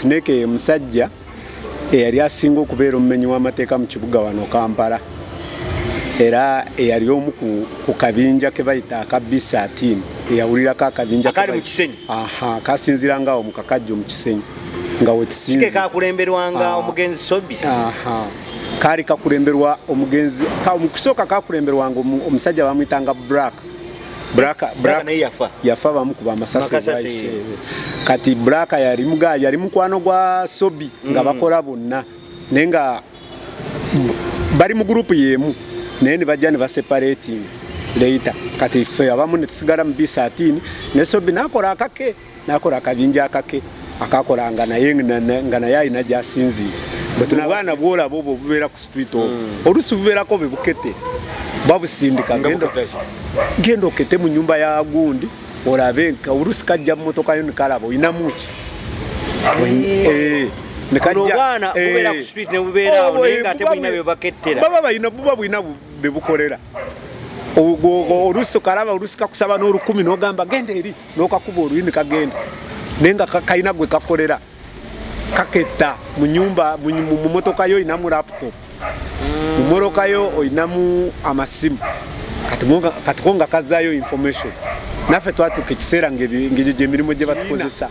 Snake ye musajja eyali asinga okubeera omumenyi w'amateeka mu kibuga wano Kampala era eyali omu ku kabinja ke bayita aka B13 eyawulirako akabinja akali mu Kisenyi aha kasinzira ngawo mu kakajjo mu Kisenyi nga wekisinzi kike kakulemberwanga ah. omugenzi Sobi aha kaali kakulemberwa omugenzi ka omukusooka kakulemberwanga omusajja bamuyitanga Black Braka Braka naye yafa yafa bamu kuba masasi kati Braka yali mga yali mukwano gwa Sobi mm. nga bakola bonna naye nga bali mu group yemu naye ne bajja ne ba separating later kati ffe abamu ne tusigala mu B13 ne Sobi nakola akake nakola akabinja akake akakolanga naye nga naye alina gyasinziire bwetuna abaana bwolaba obwo obubeera ku street obwo hmm. olusi bubeerako bwe bukete babusindika genda okete mu nyumba ya gundi olabe nka olusi kajja mu motoka yo nikalaba olinamu ki nekajjaobwana eh. bubeera ku street nebubeerawo oh, naye nga ate bulina byebakettera baba balina buba bulina bebukolera olusi okalaba olusi kakusaba n'olukumi n'ogamba genda eri nokakuba oluyini kagenda naye nga kalina gwe kakolera kaketta mu nyumba mu motoka yo olinamu laptop mu motoka yo olinamu amasimu kati ko nga kazayo information naffe twatuuka ekiseera ngegyo gyemirimu gye batukozesa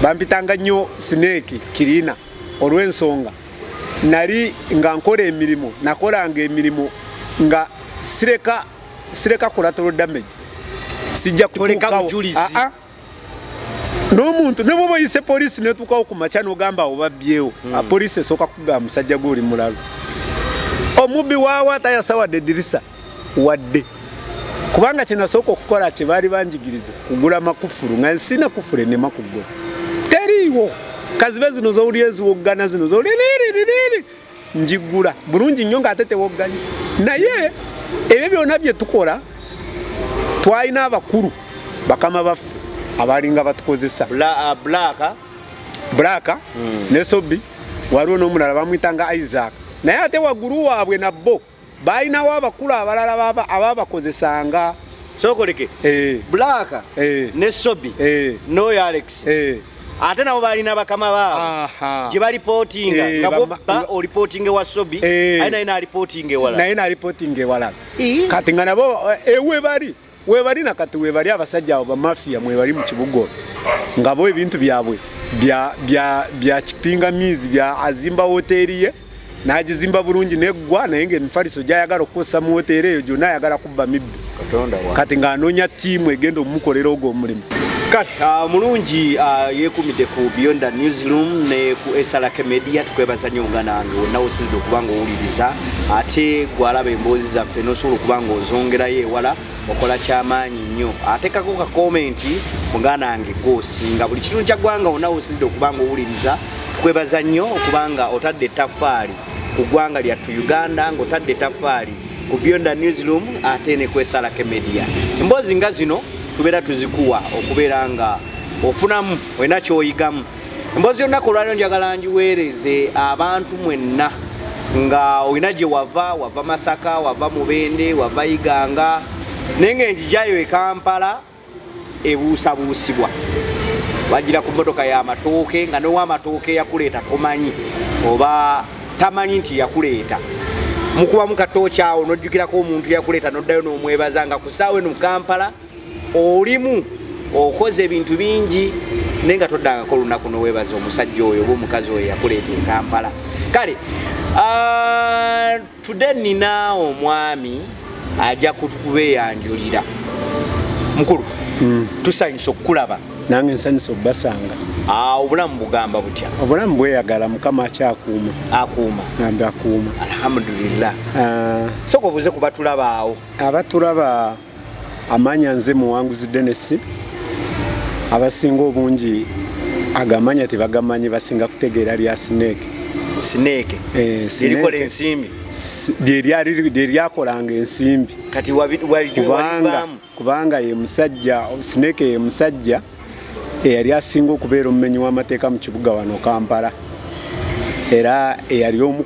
bampitanga nnyo sineeki kirina olw'ensonga nali nga nkola emirimu nakolanga emirimu nga sireka sireka collateral damage sijja kutuukawo ah, ah. n'omuntu ne bwoba oyise poliisi netuukawo ku makya n'ogamba obabyewo hmm. ah, poliisi esooka kugamba musajja gwe oli mulalu omubbi waawa tayasa wadde edirisa wadde kubanga kyenasooka okukola kye baali banjigiriza kugula makufulu nga nsina kufulu enema kugula teriiwo kazibe zino zowulira eziwoggana zino zowulira njigula bulungi nnyo ng'ate tewogganye naye ebyo byonna bye tukola twalina abakulu bakama baffe abalinga batukozesa bulaaka uh, hmm. ne sobi waliwo n'omulala bamwitanga isaac naye ate waggulu waabwe nabbo balinawo abakulu abalala ababakozesanga sokoleke eh. black eh. ne sobi eh. noyo alex ate nabo balina bakama baabo gye balipootinga nga bobba olipootinga ewa sobi aye naye nalipootinga ewala naye nalipootinga ewala kati nga nabo ewe bali webali nakati webali abasajja abo bamafia mwebali mu kibugo ngabo ebintu byabwe bya bya bya kipingamizi bya azimba hoteli ye nagizimba bulungi neggwa naye nga emifaliso gyayagala okukozesa mu woteera eyo gyonna ayagala kubba mibbi kati ng'anoonya ttiimu egenda omumukolera ogwo omulimu kale ah, mulungi ah, yekumidde ku beyond the newsroom ne ku esalake media tukwebaza nnyo nga nange wonna wosinzidde okuba nga owuliriza ate gwalaba emboozi zaffe nosobola okuba nga ozongerayo ewala okola kyamaanyi nnyo atekako ka komenti muganda wange gwosinga buli kitundu kya ggwanga onawe osinzidde okuba nga owuliriza tukwebaza nnyo okuba nga otadde etafaali ku ggwanga lyattu uganda ngaotadde etafaali ku beyond the newsroom ate ne kwesalako emedia emboozi nga zino tubeera tuzikuwa okubeera nga ofunamu olina kyoyigamu emboozi y'olunaku olwaliro njagala ngiweereze abantu mwenna nga olina gye wava wava masaka wava mubende wava iganga naye nga enjijayo ekampala ebuusabuusibwa wajira ku motoka yamatooke nga nowamatooke yakuleeta tomanyi oba tamanyi nti yakuleeta mukubamu katooki awo nojjukirako omuntu yakuleeta noddayo nomwebaza nga kusaawo eno mukampala olimu okoze ebintu bingi naye nga toddangako olunaku nowebaza omusajja oyo oba omukazi oyo yakuleeta ekampala kale ah, tude nina omwami ajja kubeyanjulira mukulu hmm. tusanyusa okukulaba nange nsanyusa okubasanga ah, obulamu bugamba butya obulamu bweyagala mukama akyakuuma akuuma ambi akuuma alhamdulillah ah. soka obuze kubatulabaawo abatulaba amanya nze muwanguzi Dennis abasinga obungi agamanya tebagamanyi basinga kutegeera lya snake snake eh, erikola ensimbi lyeryakolanga ensimbi kubanga ye musajja snake ye musajja eyali asinga okubeera omumenyi w'amateeka mu kibuga wano kampala era eyali omu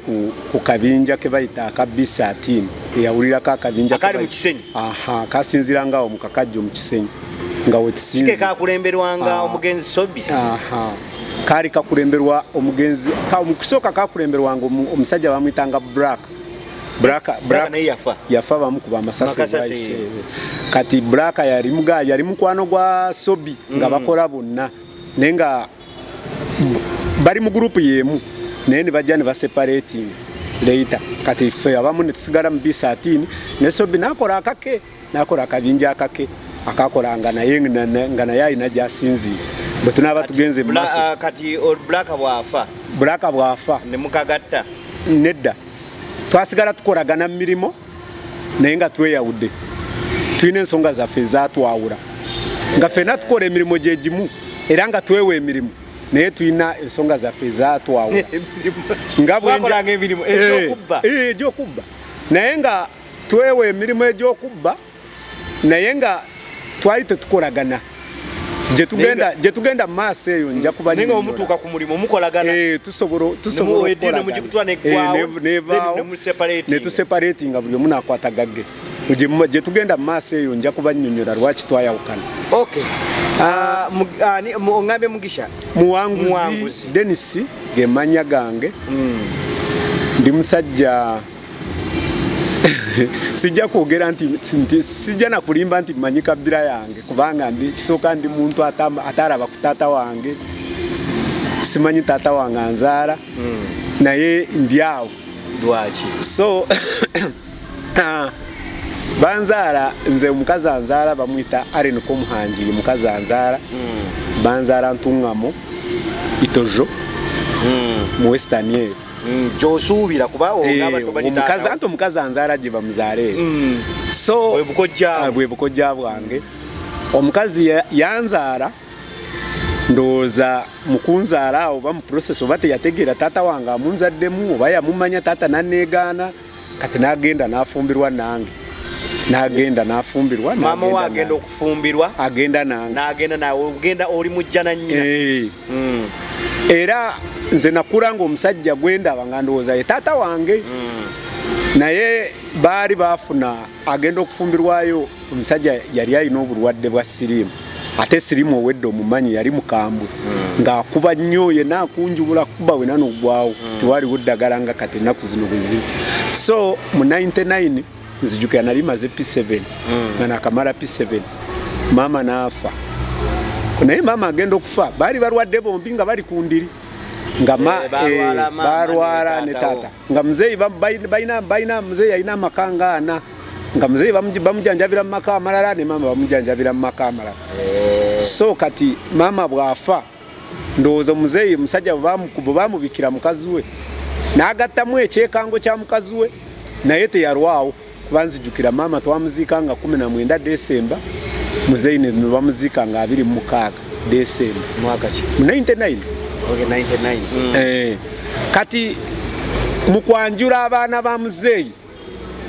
ku kabinja ke bayita aka b13 eyawulirako akabinja akali mu kisenyi aha kasinzira nga awo mu kakajjo mu kisenyi nga wekisinzi kike kakulemberwanga ah. omugenzi sobi aha kaali kakulemberwa omugenzi mu kusooka kakulemberwanga omusajja bamuyitanga black Braka braka naye yafa yafa bamu kuba masasi baise kati braka yali mga yali mukwano gwa sobi mm. nga bakola bonna naye nga bali mu group yemu naye ne bajja ne ba separating later kati fe abamu ne tusigala mu bisatini ne sobi nakola akake nakola akabinja akake akakolanga naye nga naye alina gyasinziira bwe tunaaba tugenze mu maaso ah, kati bulaka bwafa bulaka bwafa ne mukagatta nedda twasigala tukolagana mu mirimu naye nga tweyawudde tulina ensonga zaffe ezatwawula nga ffena tukola emirimu gye gimu era nga twewa emirimu naye tulina ensonga zaffe ezatwawula nga bwenjagyokubbaa eh, eh, naye nga twewa emirimu egy'okubba naye nga twali tetukolagana gye tugenda mu maaso eyo nja kubanyenga omutuuka ku mulimu mukolagana eh, tusobolanetuseparati nga buli omu nakwata gagge gye tugenda mu maaso eyo nja kubanyonyola lwaki twayawukana ah, ah, ongambe mugisha muwanguzi denisi gemanya gange hmm. ndi musajja sijja kwogera nti nti sijja na kulimba nti mmanyi kabbira yange kubanga ndi kisooka ndi muntu atalaba ku taata wange simanyi taata wange anzaala hmm. naye ndi awo lwaki so ah, banzaala nze omukazi anzaala bamwita aren komuhangiri mukazi anzaala hmm. banzaala ntungamo itojo hmm. mu western eyo mm, gyosuubira kuba omukazi eh, anti omukazi anzaala gye bamuzaale mm. so bwe bukojja ah, bwange omukazi yanzaala ndowooza mukunzaala oba mu process oba teyategeera taata wange amunzaddemu oba yamumanya taata naneegaana kati nagenda nafumbirwa nange nagenda nafumbirwa mama we agenda okufumbirwa agenda nange nagenda nawe ogenda oli mujja na nyina eh. hmm. era nze nakula nga omusajja gwendaba nga ndowooza ye taata wange hmm. naye baali bafuna agenda okufumbirwayo omusajja yali alina obulwadde bwa siriimu ate siriimu owedde omumanyi yali mukambwe hmm. ng'akuba nnyo yena akunjubula kuba wena nogwawo hmm. tewaliwo ddagala nga kati ennaku zino bweziri so mu 99 nzijukira nali maze p7 hmm. nga nakamala p7 maama naafa naye maama agenda okufa baali balwadde bombi nga bali ku ndiri nga eh, eh, balwala ne taata nga muzeeyi balina muzeeyi alina amaka nga ana nga muzeeyi bamujanjabira mu maka amalala ne maama bamujanjabira mu maka amalala eh. so kati maama bw'afa ndowooza omuzeeyi musajja bwe bamubikira mukazi we n'agattamu ekyekango kya mukazi we naye teyalwawo kuba nzijukira maama twamuziika nga kumi na mwenda desemba muzeeyi nebamuziika nga abiri mu mukaaga desemba mwaka ki 99 okay, 99 mm. eh, kati mu kwanjula abaana ba muzeeyi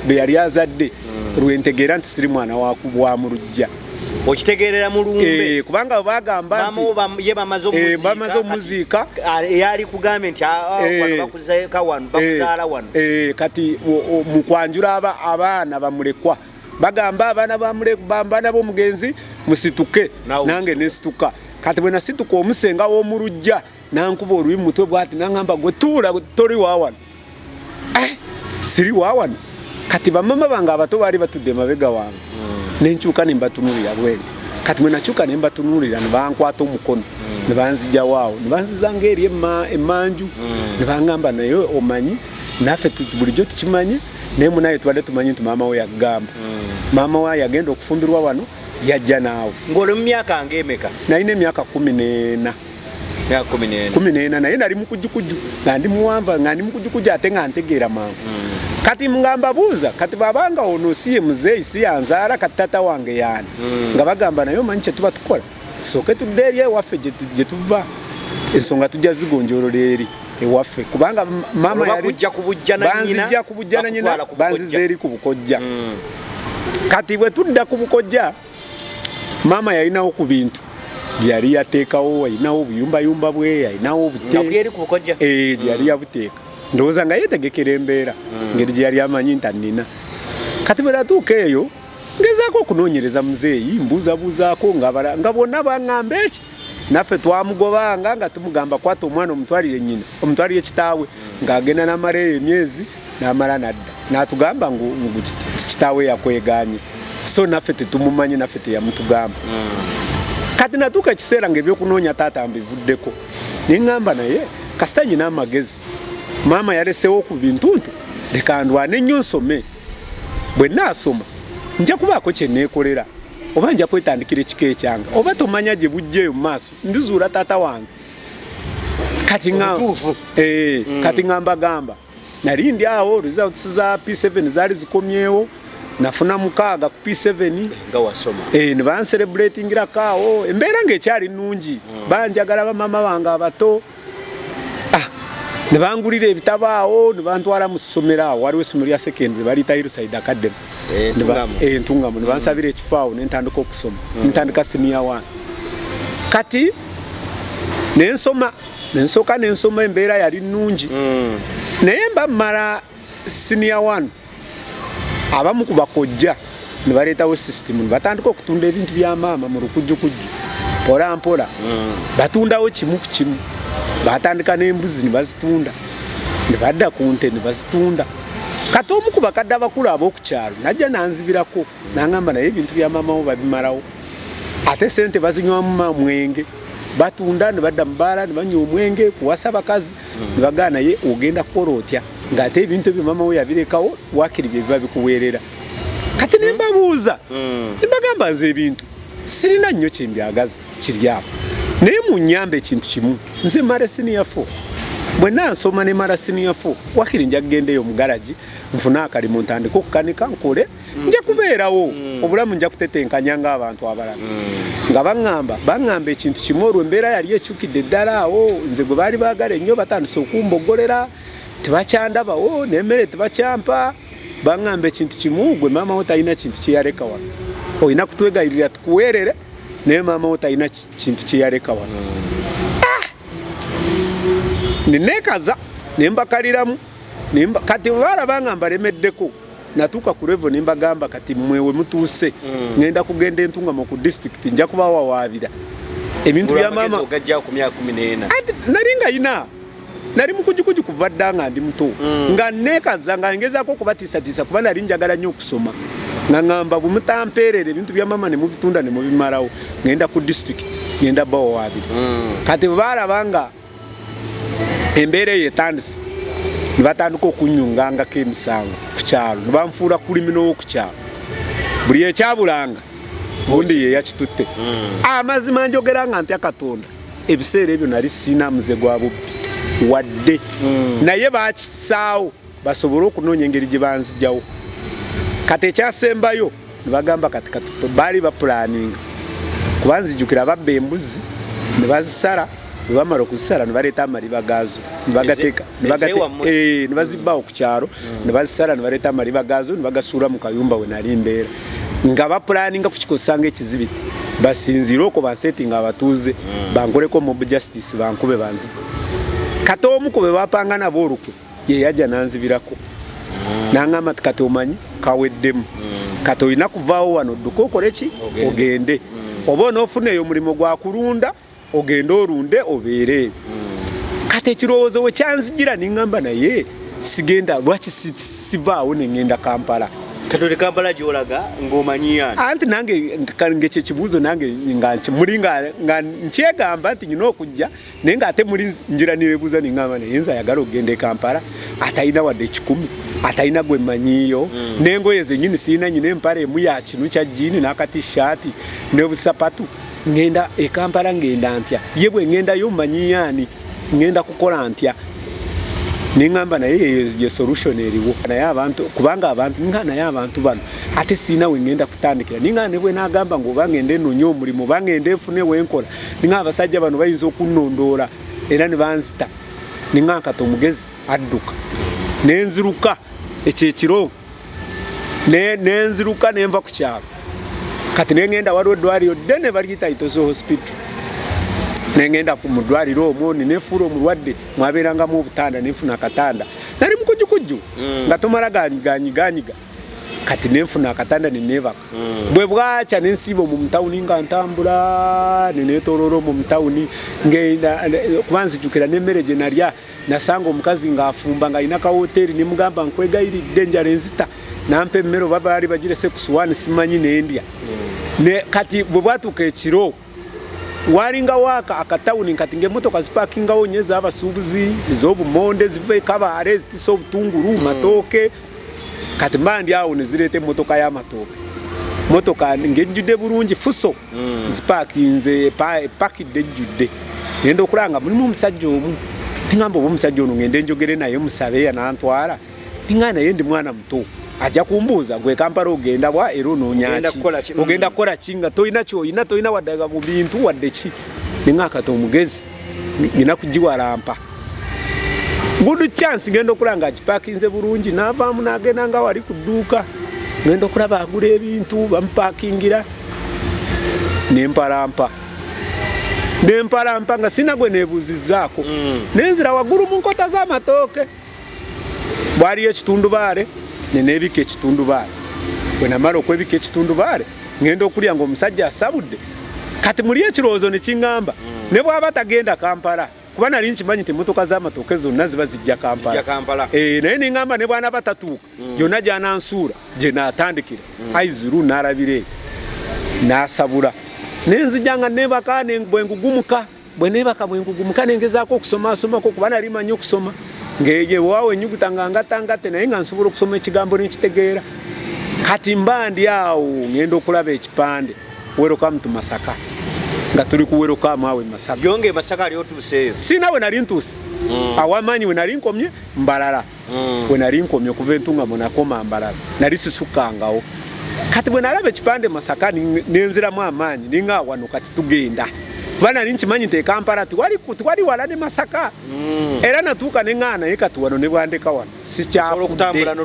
be yali azadde mm. lwentegeera nti siri mwana wa mu lujja okitegeerera mulumbe eh, kubanga bagamba ye bamaze eh, omuziika eyali eh, kugambye nti ah, ah, wano bakuzeeka wano bakuzaala wano kati mu kwanjula abaana bamulekwa bagamba abaana bamulekbambaana b'omugenzi musituke nange nesituka kati bwe nasituka omusenga w'omu lujja nankuba oluyi mu mutwe bwati nangamba gwe tuula toli wawano eh, siri wawano kati bamama bange abato baali batudde emabega wange hmm. nenkyuka nembatunulira bwene kati mwenakyuka nembatunulira nebankwata omukono hmm. nebanzijawo awo nebanzizanga eri emanju hmm. nebangamba naye omanyi naffe bulijjo tukimanyi naye munaye tubadde tumanyi nti maama we yakugamba maama we yagenda okufumbirwa wano yajja naawe ng'oli mu myaka ngaemeka nalina emyaka kumi n'ena kumi nena naye nali mukujukujju nga ndi muwanva nga ndi mukujukujju ate nga ntegeera mangu mm. kati nga mbabuuza kati babanga ono siye muzeeyi siyanzaala kati tata wange yaani mm. nga bagamba naye omanyi kyetuba tukola tusooke tudde eri ewaffe gye tuva ensonga tujja zigonjolola eri ewaffe kubanga mama yalibanzijja kubujjananyina banziza eri ku bukojja mm. kati bwe tudda ku bukojja maama yalinawo ku bintu gyeyali yateekawo alinawo obuyumbayumba bwe alinawo obuteeri ku bukojja ee eh, gyeyali mm. yabuteeka ndowooza nga yetegekera embeera mm. ngeri gyeyali amanyi nti annina kati bwe natuuka eyo ngezaako okunoonyereza muzeeyi mbuuzabuuzaako nga bonna baŋŋamba eki naffe twamugobanga nga tumugamba kwata omwana omutwalire nyina omutwalire kitaawe ng'agenda n'amala eyo emyezi n'amala nadda n'atugamba ngu kitaawe yakweganye so naffe tetumumanyi naffe teyamutugamba hmm. kati natuuka ekiseera ng'ebyokunoonya taata mbivuddeko neŋŋamba naye kasita nyina amagezi maama yalesewo ku bintu nti leka ndwane nnyo nsome bwe naasoma nja kubaako kye neekolera oba nja kwetandikira ekika ekyange oba tomanya gye bujja eyo mu maaso ndizuula taata wange kati eh, mm. kati ngamba gamba nali ndi awo results za p7 zaali zikomyewo nafuna mukaaga ku p7 eh, nebanselebratingira kaawo embeera ngaekyali nungi mm. banjagala bamama bange abato ah, ne bangulira ebitabo awo ne bantwala mu ssomero awo waliwo essomero lya secondary baliyita hillside academy entungamu ne bansabira ekifo awo ne ntandika okusoma mm. ntandika siniya wani kati ne nsoma ne nsooka ne nsoma embeera yali nnungi mm. naye mba mmala siniya wani abamu ku bakojja ne baleetawo sisitimu ne batandika okutunda ebintu bya maama mu lukujjukujju mpola mpola mm. batundawo kimu ku kimu batandika n'embuzi ne bazitunda ne badda ku nte ne bazitunda kati omu ku bakadde abakulu ab'oku kyalo najja nanzibirako nangamba naye ebintu bya maama wo babimalawo ate sente bazinywamu mamwenge batunda ne badda mu baala ne banywa omwenge kuwasa bakazi nibagaa naye ogenda kukola otya ng'ate ebintu ebyo mama we yabirekawo wakiri bye biba bikuweerera kati ne mbabuuza mm. ne bagamba nze ebintu sirina nnyo kye mbyagaza kiri awo naye mu nnyamba ekintu kimu nze mara siniya fo bwe nansoma ne mara siniya fo wakiri nja kugendaeyo omugaragi nfune akalimu ntandika okukanika nkole nja kubeerawo mm. obulamu nja kutetenkanya ng'abantu abalala mm. nga baŋŋamba baŋŋamba ekintu kimu olwo embeera yali ekyukidde eddala awo nze gwe baali baagala ennyo batandise okumboggolera tebakyandabawo oh, n'emmere tebakyampa baŋŋamba ekintu kimu gwe maama wo talina kintu kye yaleka wano olina kutwegayirira tukuweerere naye maama wo talina kintu kye yaleka wano mm. ah! neneekaza ne mbakaliramu kati baalaba nga mbalemeddeko natuuka ku revo nembagamba kati mwe wemutuuse mm. ngenda kugenda entungamo ku disitulikiti nja kubawawaabira ebintu byamama nali nga yina nali mukujukuju kuva dda nga ndi muto mm. nga nekaza nga ngezaako okubatiisatiisa kuba nali njagala nnyo okusoma nga ngamba bwemutampeerera ebintu bya mama nemubitunda nemubimalawo ngenda ku disitulikiti ngenda bawawaabira mm. kati baalaba nga embeera eyo etandise ne batandika okunyungangako emisango ku kyalo ne banfuula kulimi n'owoku kyalo buli ekyabulanga gundi ye yakitutte hmm. amazima njogera nga ntya katonda ebiseera ebyo nali siina muze gwa bubbi wadde hmm. naye bakisaawo basobole okunoonya engeri gye banzijawo kati ekyasembayo nebagamba kati kati baali bapulaninga kuba nzijukira babba embuzi ne bazisala bwe bamala okuzisala ne baleeta amaliba gaazo ne bagateeka ne eh, bazibbawo ku kyalo mm. ne bazisala ne baleeta amaliba gaazo ne bagasuula mu kayumba we nali mbeera nga bapulaninga kukikozesanga ekizibiti basinziire okwo bansetinga abatuuze mm. bankoleko mob justice bankube banzite kati omu ku be bapanga nabo olukwe ye yajja nanzibirako mm. nangamba ti kati omanyi kaweddemu mm. kati olina kuvaawo wano dduka okole ki ogende mm. oba onoofuna eyo omulimu gwa kulunda ogende olunde obeere kati ekirowoozo we kyanzijira nengamba naye sigenda lwaki sivaawo nengenda kampala katoli kampala gyolaga ng'omanyiyan anti nange ngekyekibuuzo nange muli nga nkyegamba nti nyina okujja naye nga ate muli njira nebebuuza nengamba naye nze ayagala okugenda e kampala atalina wadde ekikumi atalina gwe manyiiyo mm. nengoye zenyini sirina nyina empala emu ya kinu kya jiini n'akatishaati nebusapatu ngenda e kampala ngenda ntya ye bwe ngendayo manyiyaani ngenda kukola ntya nengamba naye ye solution eriwo naye abantu kubanga abantu nga naye abantu bano ate sirina wengenda kutandikira ninga nebwenagamba ngaoba ngende enonye omulimu oba ngende efune wenkola ninga abasajja bano bayinza okunnondoola era ne banzita ninga nkata omugezi adduka ne nziruka ekyo ekiro ne nziruka ne nva ku kyalo kati ne ngenda waliwo eddwaliro ddene baliyita itosi hospital ne ngenda mu ddwaliro omwo ne nefuula omulwadde mwabeerangamu obutanda ne nfuna akatanda nali mukujukujju mm. nga tomala ganyiganyiga kati nenfuna akatanda nenebaka mm. bwe bwakya nensiiba omu mutawuni nga ntambula nenetoloola omu mutawuni kuba nzijukira nemmere gye nalya nasanga omukazi ng'afumba nga alina kawoteeri nemugamba nkwegayiridde enjala enzita nampa emmere oba baali bagirese ku suwaani simanyi nendya mm. kati bwe bwatuuka ekiro walinga waka akatawuni nkati ngemotoka zipakingawo nye zabasubuzi ezobumonde ziva ekabaale zitisa obutungulu hmm. matooke kati mba ndi awo nezireeta emotoka y'amatooke motoka ngejjudde bulungi fuso hmm. zipakinze epakidde ejjudde ngenda okulaba nga mulimu omusajja omu ngamba oba omusajja ono ngende njogere naye musabe yanantwala nga naye ndi mwana muto ajja kumbuuza gwe kampala ogenda wa era onoonyaki ogenda kukola ki nga tolina kyoyina tolina waddaga ku bintu wadde ki ninga akata omugezi ngina kugiwalampa good chance ngenda okula nga agipakinze bulungi navaamu nagenda nga wali ku dduuka ngenda okulaba agula ebintu bamupakingira nempalampa nempalampa nga sina gwe nebuuzizaako mm. nenzira waggulu mu nkota z'amatooke bwaliyo ekitundubaale nenebika ekitundubaale bwenamala okwebika ekitundubaale ngenda okulya nga omusajja asabudde kati muli ekirowoozo nekiŋamba mm. ne bwaba tagenda kampala kuba nali nkimanyi nti emotoka z'amatooke zonna ziba zijja kampala eh, naye neŋamba ne bwana batatuuka mm. yonna gyanansuula gye natandikira mm. aiziru nalabira eyo nasabula nenzijanga nebaka bwengugumuka bwe neebaka bwe nkugumuka ne ngezaako okusomaasomako kuba nali manyi okusoma ngeyewaawo enyuguta nga ngatangatte naye nga nsobola okusoma ekigambo nenkitegeera kati mba ndi awo ngenda okulaba ekipande werokamu tu masaka nga tuli kuwerokamu awo emasaka byonge masaka ali otuuseeyo si nawe nali ntuuse mm. awamaanyi we nali nkomye mbalala mm. we nali nkomye okuva entungamo nakoma mbalala nali sisukkangawo kati bwe nalaba ekipande masaka nenziramu amaanyi ninga awano kati tugenda kuba nali nkimanyi nti ekampala tiwali wala ne masaka mm. era natuuka neŋaa naye kati wano nebwandeka wano sikyafuera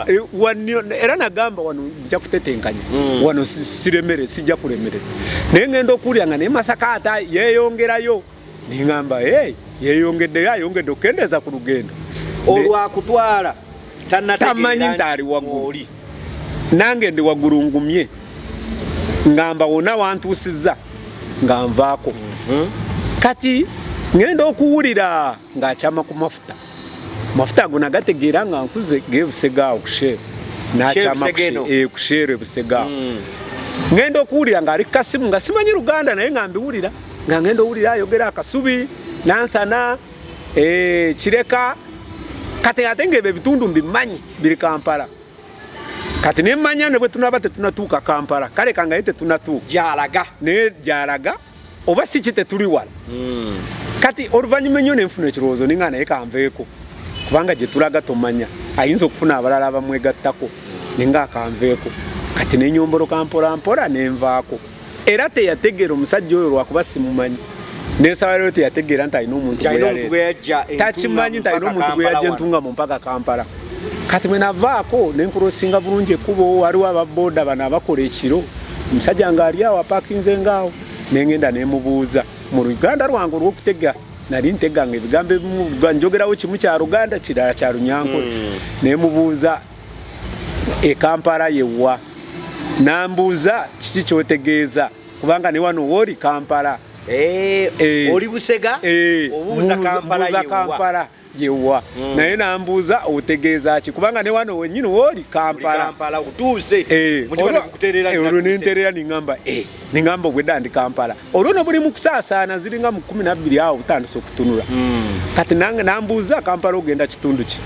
eh, nagamba wano nja kutetenkanya mm. wano siremere sijja kulemerera naye ngenda okuwulira nga naye masaka ata yeyongerayo neŋamba hey, yeyongeddeyo ayongedde okukendeeza ku lugendo olwakutwala tamanyi nti ali waggulu nange ndi waggulu ngumye ngamba wona wantuusizza nga nvaako mhm. kati ŋenda okuwulira ng'akyama ku mafuta amafuta ago nagategeera nga nkuze gebusega awo kusheeru nakyama eh, kusheeru ebusega awo hmm. ngenda okuwulira nga ali kasimu nga simanyi luganda naye nga mbiwulira nga ngenda owulira ayogera akasubi nansana eh, kireka kati ate nga ebyo ebitundu mbimanyi biri kampala kati nemanya ne bwe tunaba tetunatuuka kampala kale kangaye tetunatuuka gyalaga naye gyalaga oba si kite tuli wala mm. kati oluvannyuma ennyo nenfuna ekirowoozo ninga naye kanveeko kubanga gye tulaga tomanya ayinza okufuna abalala abamwegattako ninga akanveeko kati nenyomboloka mpolampola nenvaako era teyategeera omusajja oyo lwakuba simumanyi nensaba lero teyategeera nti alina omuntu takimanyi nti alina omuntu gweyajja entunga mu mpaka kampala kati mwe navaako ne nkurosinga bulungi ekkubo waliwo ababooda bano abakola ekiro omusajja ng'ali awo apakinze ngaawo nengenda nemubuuza mu luganda lwange olw'okutega nali nteganga ebigambo ebimu njogerawo kimu kya luganda kirala kya lunyankole hmm. nemubuuza ekampala yewa nambuuza kiki kyotegeeza kubanga ne wano wooli kampala eh, eh. oli busega eh, obuuza kampala yewa mm. naye nambuuza otegeeza ki kubanga ne wano wenyini wooli kampala otuuse eh, olwo nenterera ningamba eh, ningamba obwedda ndi kampala olwo no buli mukusaasaana ziringa mu kumi nabbiri awo butandise okutunula mm. kati nange nambuuza kampala ogenda kitundu ki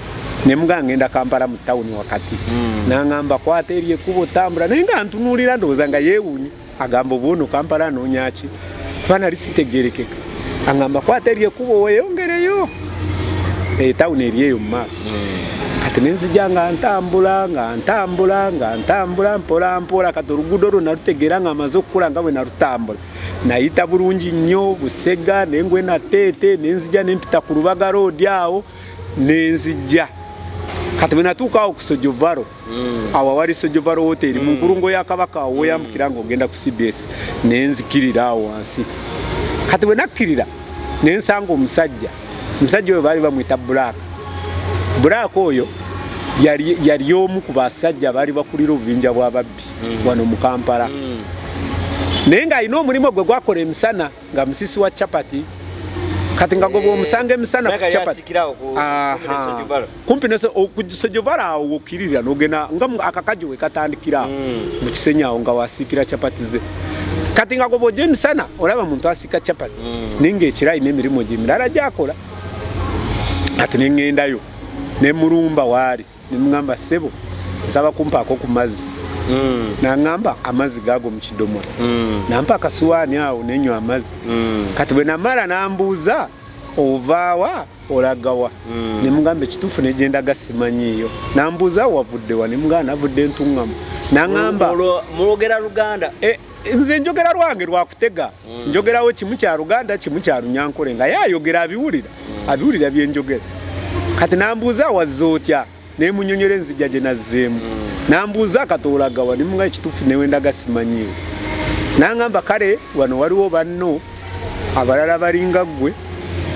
nemuga ngenda kampala mu tawuni wakati mm. nangamba kwata eri ekuba otambula naye nga ntunuulira ndowooza nga yeewuunye agamba obuono kampala anoonyaki kuba nali sitegerekeka angamba kwata eri ekubo weyongereyo etawuni eh, eri eyo mu maaso hmm. kati nenzija nga ntambula nga ntambula nga ntambula mpolampola kati oluguudo olwo nalutegeera nga amaze okukula nga bwe nalutambula nayita bulungi nnyo busega nengwe nateete nenzija nempita ku lubaga loodi awo nenzija kati bwenatuukawo kusojovaro Mm. awo awali sojovaro woteri mm. mu nkulungo ya kabaka awo woyambukira mm. nga ogenda ku cbs naye nzikirira awo wansi kati bwe nakkirira naye nsanga omusajja omusajja oyo baali bamwita bulaaka bulaaka oyo yali omu ku basajja baali bakulira obubinja bw'ababbi wano mu kampala naye ng'alina omulimu gwe gwakola emisana nga musisi wa chapati kati nga goba eh, omusanga emisana ku chapati kumpi nese okujisojovara awo wokirira nogena nga akakaji wekatandikira hmm. mukisenya awo nga wasikira chapati ze kati nga goba ojo emisana olaba muntu asika chapati hmm. ninga ekirayi nemirimu gyemirala gyakola kati nengendayo nemurumba waali nemugamba sebo nsaba kumpaako ku mazzi mm. nangamba amazzi gaago mu kidomola mm. nampa akasuwaani awo nenywa amazzi mm. kati bwe namala nambuuza ovaawa olagawa mm. nemugamba ekituufu negenda gasimanyiiyo nambuuza wavuddewa nemugamba navudde entuŋŋamu nangamba mulwogera luganda e, nze njogera lwange lwakutega mm. njogerawo kimu kya luganda kimu kya lunyankole nga ye ayogera abiwulira mm. abiwulira byenjogera kati nambuuza awazza otya naye munyonyole enzija gye nazzeemu mm. nambuuza akatoolagawa nimunga ekituufu newendaga simanyiwo nangamba kale wano waliwo banno abalala balinga ggwe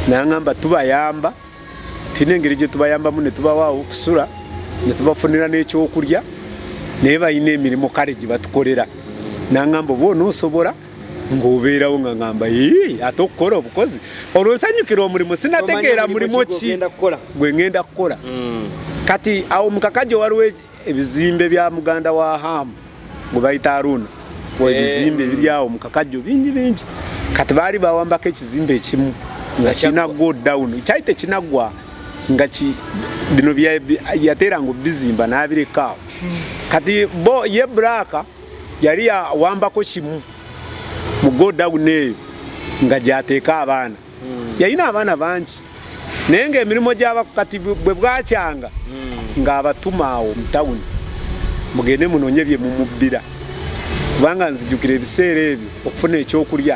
nangamba tubayamba tulina engeri gye tubayambamu ne tubawaawo okusula ne tubafunira n'ekyokulya naye balina emirimu kale gye batukolera nangamba oba onoosobola ng'obeerawo nga ngamba ii ate okukola obukozi olwo nsanyukira omulimu sinategeera mulimu ki gwe ngenda kukola mm. kati awo mukakajo waliwo e-, ebizimbe bya muganda wa hamu gwe bayita aruna eh. ebizimbe ebiryawo mukakajo bingi bingi kati baali bawambako ekizimbe ekimu nga kirina go down kyali tekinaggwa nga bino yateeranga obizimba n'abirekaawo hmm. kati bo ye bulaaka yali awambako kimu mu godawuni eyo nga gyateeka abaana hmm. yalina abaana bangi naye ngaemirimu gyabakati bwe bwakyanga hmm. ng'abatuma awo mu tawuni mugende munonye bye mumubbira kubanga nzijukira ebiseera ebyo okufuna ekyokulya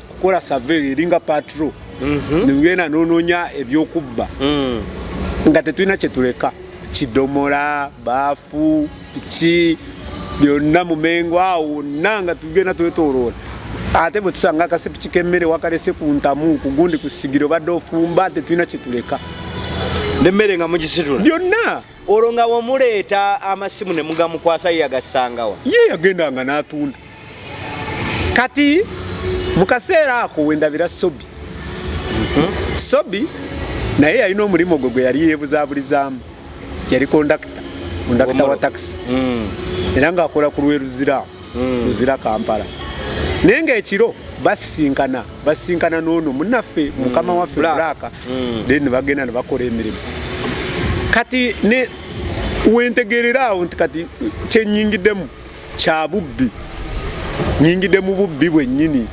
kukola survey eringa patrol mhm. nengenda nononya ebyokubba mm. nga tetulina kyetuleka kidomola baafu ki byonna mumengo awo wonna nga tugenda twetoloola ate bwe tusanga akasepiki k'emmere wakalese ku ntamu ku gundi ku sigiro badde ofumba tetulina kyetuleka nemmere nga mugisitula byonna olwo nga wemuleeta amasimu ne mugamukwasa ye yagassangawa ye yagendanga n'atunda kati mu kaseera ako wendabira sobi hmm? sobi naye yalina omulimu gwe gwe yali yeebuzaaburizaamu yali kondakita kondakita wa takisi hmm. era ng'akola ku lweruziraamu mm. luzira kampala naye ngaekiro basisinkana basisinkana noono munaffe mm. mukama mm. waffe bulaka mm. then nebagenda nebakola emirimu kati ne wentegerera awo nti kati kyenyingiddemu kya bubbi nyingidde mu bubbi bwennyini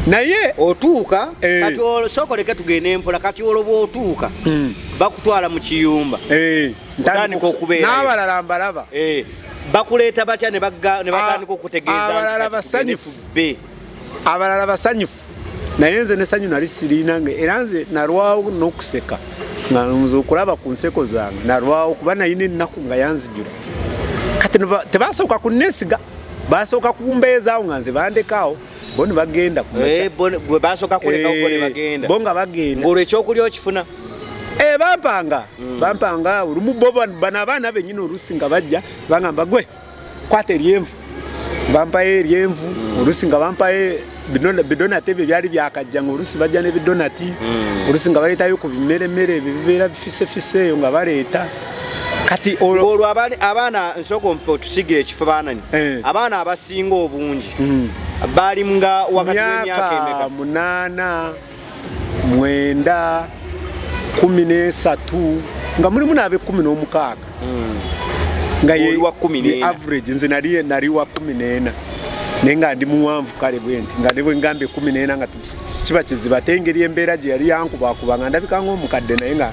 naye otuuka eh. kati osokoleke tugende mpola kati olwo bwotuuka hmm. bakutwala mu kiyumba eh. ntandika okubeera n'abalala mbalaba eh. bakuleeta batya ne batandika okutegeeza abalala basanyufu be abalala basanyufu naye nze nesanyu nali sirina nga era nze nalwawo n'okuseka nga nze okulaba ku nseko zange nalwawo kuba nayina ennaku nga yanzijula kati tebasooka kunneesiga basooka kumbeezaawo nga nze bandekaawo bo ne bagenda eh, gwe basooka kuleka uko ne eh, bagenda bo nga bagenda ng'olwo ekyokulya okifuna eh, bampanga mm. bampanga olumu bo bano abaana benyini oluusi nga bajja bangamba gwe kwata eryenvu bampayo eryenvu mm. oluusi nga bampayo bidonati ebyo byali byakajja nga oluusi bajja n'ebidonati mm. oluusi nga baleetayo ku bimeremere ebyo bibeera bifisefise eyo nga baleeta kati olwo abaana nsooka otusiga ekifo baanani eh. abaana abasinga obungi hmm. baali nga wakati wemyaka emeka munaana mwenda kumi n'esatu nga mulimu n'abekumi n'omukaaga hmm. nga ye average nze nali nali wa kumi n'ena naye nga ndi muwanvu kale bwenti nga ne bwengamba ekumi n'ena nga kiba kiziba ate engeri embeera gye yali yankubakuba nga ndabika ngaomukadde naye nga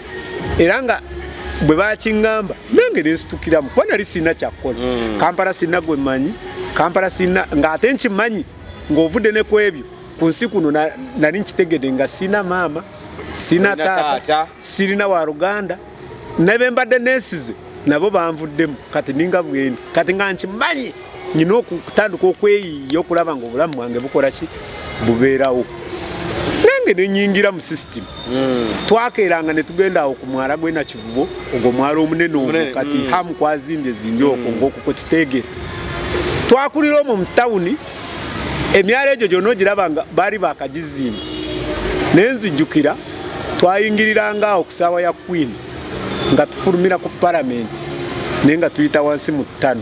era nga bwe bakingamba nange nensitukiramu kuba nali sirina kyakukola mm. kampala sirina gwe mmanyi kampala sirina ng'ate nkimanyi ng'ovudde ne ku ebyo ku nsi kuno nali nkitegedde nga sirina maama sirina taata sirina wa luganda nebe mbadde nensize nabo banvuddemu kati ninga bwendi kati nga nkimanyi nyina okutandika okweyiya okulaba nga obulamu bwange bukola ki bubeerawo nange nenyingira mu system hmm. twakeeranga netugenda awo ku mwala gwena kivubo ogwo mwala omunene omu kati hmm. hamu kwazimbye zimbye okwo hmm. ngaokuko kitegere twakulira omwo mu tawuni emyala egyo gyona ogiraba nga baali bakagizimba naye nzijjukira twayingiriranga awo ku saawa ya queen nga tufulumira ku palamenti naye nga tuyita wansi mu ttano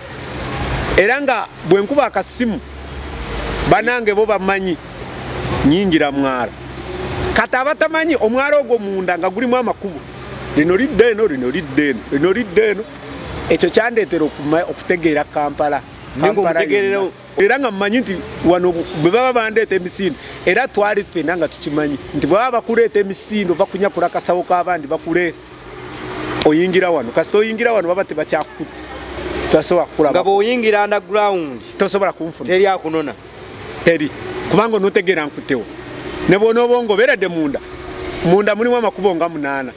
era nga bwe nkuba akasimu banange bo bamanyi nyingira mwala kati abatamanyi omwala ogwo munda nga gulimu amakubo lino lidda eno lino lidda eno lino lidda eno ekyo kyandeetera okutegeera kampala era nga mumanyi nti wano bwe baba bandeeta emisindo era twali ffena nga tukimanyi nti bwebaba bakuleeta emisindo bakunyakula kasawo k'abandi bakuleesa Just oyingira wano kasita oyingira wano baba tebakyakukuta tosobola kukula nga bwoyingira underground tosobola kunfuna teri akunona teri kubanga onotegeera nkutewo ne bwona oba ongoberedde munda munda mulimu amakubo nga munaana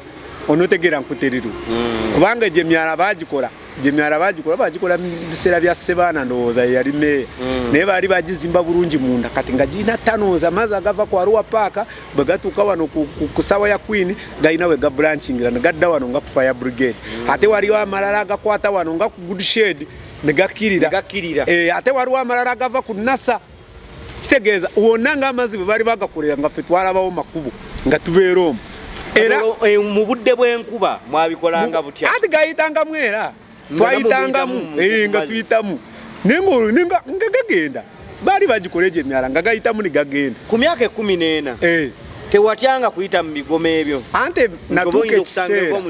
onotegeera nkuteriru mm. kubanga egyo emyala baagikola gyemyala bagikola bagikola mubiseera bya sebaana ndowooza yeyali meeya mm. naye baali bagizimba bulungi munda kati nga girina tanooza amazzi agava ku aruwa paaka bwe gatuuka wano ku sawa ya queen galina we gabulanchingira ne gadda wano nga ku fire brigade mm. ate waliwo amalala agakwata wano nga ku good shade ne gakkirira eh, ate waliwo amalala agava ku nasa kitegeeza wonna ng'amazzi bwe bali bagakolera nga ffe twalabawo makubo nga tubeera omu era eh, mu budde bw'enkuba mwabikolanga butya anti gayitangamu era twayitangamu eh, nga tuyitamu naye nga gagenda baali bagikola egyo emyala nga gayitamu ne gagenda ku myaka ekumi n'ena eh. tewatyanga kuyita mu bigomo ebyo ante natuuka ekiseera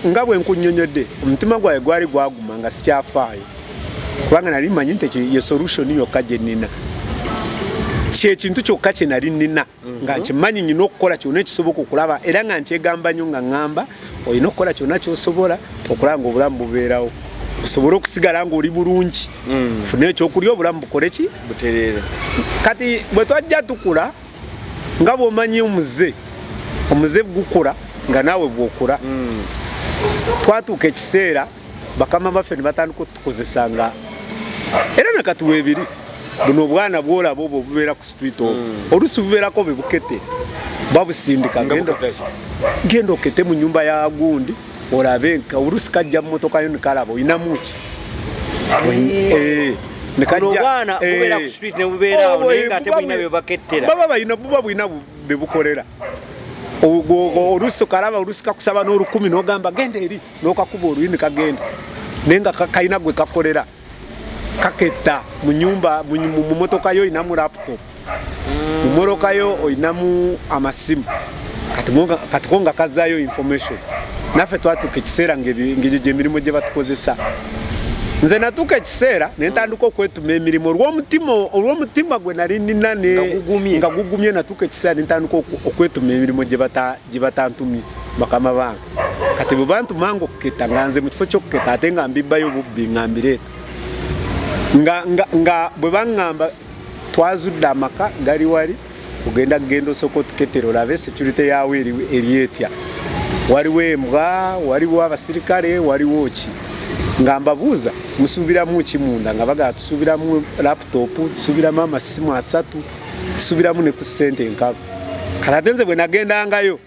nga bwe nkunyonyodde omutima gwawe gwali gwaguma nga sikyafaayo kubanga nali manyi nti ye solution yokka gye nnina kyekintu kyokka kye nali nnina nga mhm. nkimanyi nyina okukola kyona ekisoboka okulaba era nga nkyegamba nyo nga ŋŋamba olina okukola kyonna kyosobola okulaba nga obulamu bubeerawo osobole okusigala nga oli bulungi mm. funa ekyokulya obulamu bukole ki butereere kati bwe twajja tukula nga bwomanyi omuze omuze gukula nga naawe bwokula mm. twatuuka ekiseera bakama baffe ne batandika otukozesa nga era nakati weebiri buno obwana bwolaba obwo obubeera ku street obwo hmm. oluusi bubeerako be bukete babusindika genda okete mu nyumba ya gundi olabe nka oluusi kajja mu motoka yo nikalaba olinamu ki baba balina buba bulina bebukolera oluusi okalaba oluusi kakusaba n'olukumi n'ogamba genda eri nokakuba oluyini kagenda naye nga kalina gwe kakolera kaketta mu nyumba mu motoka yo olinamu laptop mu motoka yo olinamu amasimu kati ko nga kazayo information naffe twatuuka ekiseera ngegyo gyemirimu gye batukozesa nze natuuka ekiseera nentandika okwetuma emirimu olwomutima gwe nali nina nga gugumye natuuka ekiseera nentandika okwetuma emirimu gye batantumye bakama bange kati bwe bantu mango okuketta nga nze mu kifo ky'okuketta ate nga mbibbayo bubbi nga mbireeta nga, nga, nga bwe baŋŋamba twazudde amaka gali wali ogenda kugenda osooka otuketera olabe security yaawo eri etya waliwo embwa waliwo abasirikale waliwo ki nga mbabuuza musuubiramu ki munda nga bagala tusuubiramu laputopu tusuubiramu amasimu asatu tusuubiramu ne ku ssente enkalu kalatenze bwe nagendangayo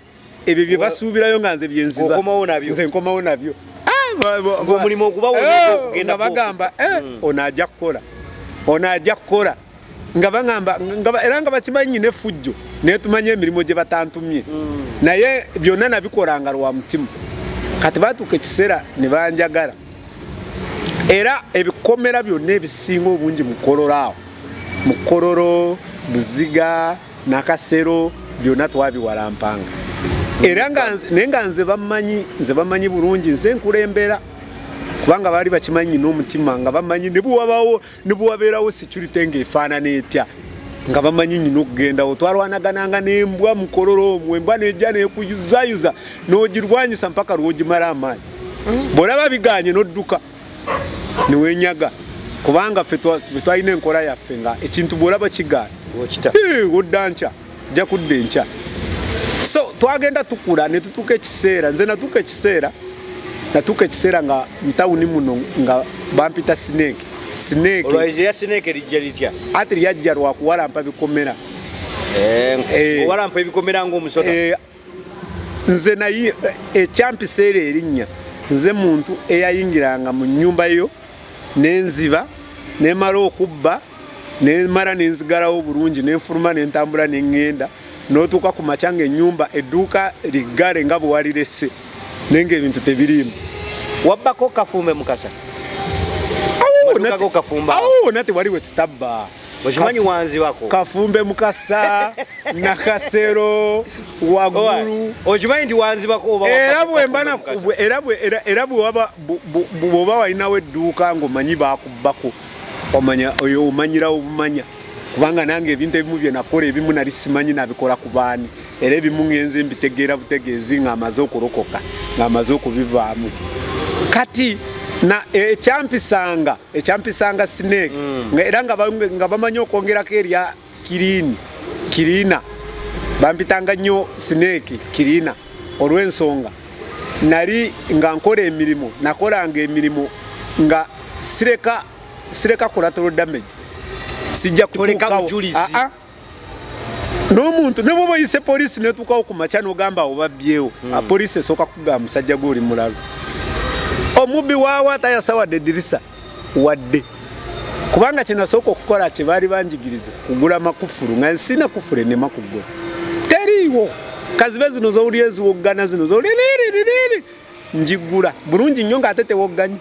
ebyo bye basuubirayo nga nze byenziba okomawo nabyo nze nkomawo nabyo omulimu okubawogenda eh, bagamba eh, hmm. ono ajja kukola ono ajja kukola nga bagamba era nga bakimanyi nyina efujjo naye tumanye emirimu gye batantumye hmm. naye byonna nabikolanga lwa mutima kati batuuka ekiseera ne banjagala era ebikomera byonna ebisinga obungi mukololo awo mukololo buziga nakasero byonna twabiwalampanga era naye nga nze bamanyi nze bamanyi bulungi nze nkulembera kubanga baali bakimanyi n'omutima nga bamanyi nebwabawo nebwabeerawo security nga efaanana etya nga bamanyi nyina okugendawo twalwanagananga nembwa mukololo omwo embwa nejja nekuyuzayuza nogirwanyisa mpaka lwogimala amaanyi mm. bwolaba biganye nodduka niwenyaga kubanga fe twalina enkola yaffe nga ekintu bwolaba kigaana odda nkya ojja kudda enkya so twagenda tukula ne tutuuka ekiseera nze natuuka ekiseera natuuka ekiseera nga mutawuni muno nga bampita sineeke sineeke ati lyajja lwakuwalampa bikomera eh, eh. owalampa ebikomera ngaomusoda eh, nze naye ekyampiseera erinnya nze muntu eyayingiranga mu nnyumba yo nenziba nemala okubba nemala nenzigalawo bulungi nenfuluma nentambula nengenda notuuka ku makya nga ennyumba edduuka liggale nga bwewalirese naye nga ebintu tebiriimu wabbako kafumbe mukasa awo nate wali wetutabba okimanyi wanzibako kafumbe mukasa nakasero wagulu okimanyi nti wanzibako era bwoba walinawo edduuka ngaomanyi bakubbako omanya oyo omanyira obumanya kubanga nange ebintu ebimu byenakola ebimu nali simanyi nabikola ku baani era ebimu ngenze mbitegeera butegeezi ngaamaze okulokoka ngaamaze okubivaamu kati ekyampisanga ekyampisanga snake mm. era nga bamanyi okwongerako erya kirini kirina bampitanga nnyo snake kirina olw'ensonga nali nga nkola emirimu nakolanga emirimu nga sireka sireka collateral damage sijja kutuukawo n'omuntu ne bwoba oyise poliisi netuukawo ku makya n'ogamba awo babbyewo hmm. ah, poliisi esooka kugamba musajja gwe oli mulalu omubbi waawo atayasa wadde edirisa wadde kubanga kyenasooka okukola kye baali banjigiriza kugula makufulu nga nsina kufulu enema kugula teriiwo kazibe zino zowulya eziwoggana zino zowulya niriririi ngiggula bulungi nnyo ng'ate tewogganyi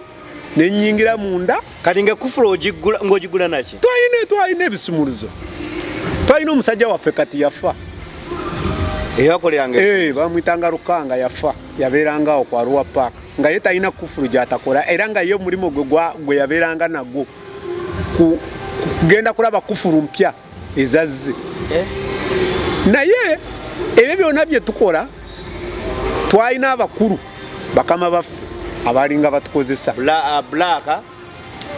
ne nnyingira munda kati ng'ekufula ogiggula ng'ogiggula naki twalina twalina ebisumuluzo twalina omusajja waffe kati yafa eyakoleranga eh, bamwitanga lukanga yafa yabeerangawo ku aruwa paaka nga ye talina kufulu gyatakola era nga ye omulimu gwe gwe yabeeranga nagwo kugenda kulaba kufulu mpya ezazze eh? naye ebyo byona byetukola twalina abakulu bakama baffe abalinga batukozesa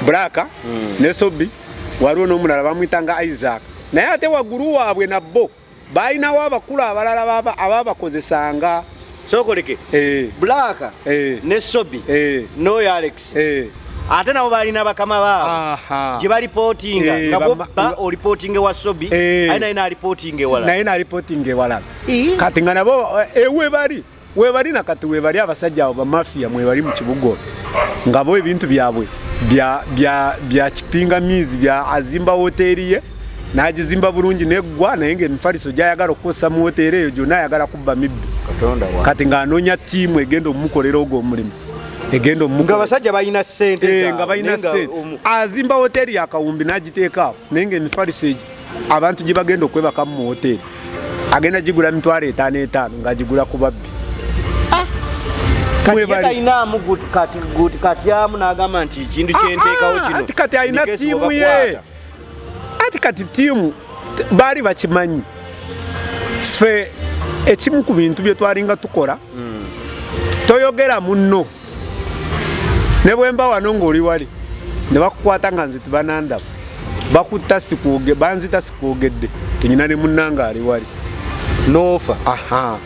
blaaka ah, hmm. nesobi waliwo nomulala bamwitanga isaac naye ate wagulu waabwe nabbo baalinawo abakulu abalala abaabakozesanga sokoleke eh. black eh. ne sobi eh. noyo alex ate nabo balina bakama baabo gye balipotinga nga boba olipotinga ewa sobi aye naye nalipotinga ewala naye nalipotinga ewala kati nga nabo ewe bali webali nakati webali abasajja abo bamafia mwebali mu kibugo ngabo ebintu byabwe bya bya bya kipinga mizi bya azimba hoteli ye najizimba bulungi negwa naye nga emifaliso gyayagala okukosa mu hoteli eyo gyona ayagala kubba mibbi kati nga anonya tiimu egenda omukolera ogwo omulimu egenda omuga abasajja balina sente eh, nga balina sente azimba hoteli yakawumbi nagiteekaawo naye nga emifaliso egyo abantu gye bagenda okwebaka mu hoteeri agenda gigula mitwalo etaano etaano ng'agigula ku babbi ah! katyamu nagamba nti ekintu kyenteekawo ah, ah, kino kati alina tiimu ye ati kati tiimu baali bakimanyi ffe ekimu ku bintu bye twalinga tukola hmm. toyogera munno ne bwe mba wano ng'oli wali ne bakukwata nga nze tibanandaba bakutta sikuuge banzita sikuugedde tenyina ne munnanga ali wali noofa aha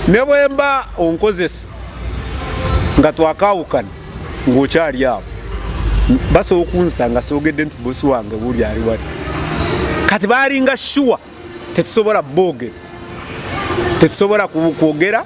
ne bwe mba onkozesa nga twakaawukana ng'okyali awo basobola okunzita nga soogedde nti bosi wange buli ali wali kati baalinga shuwa tetusobola boogera tetusobola kwogera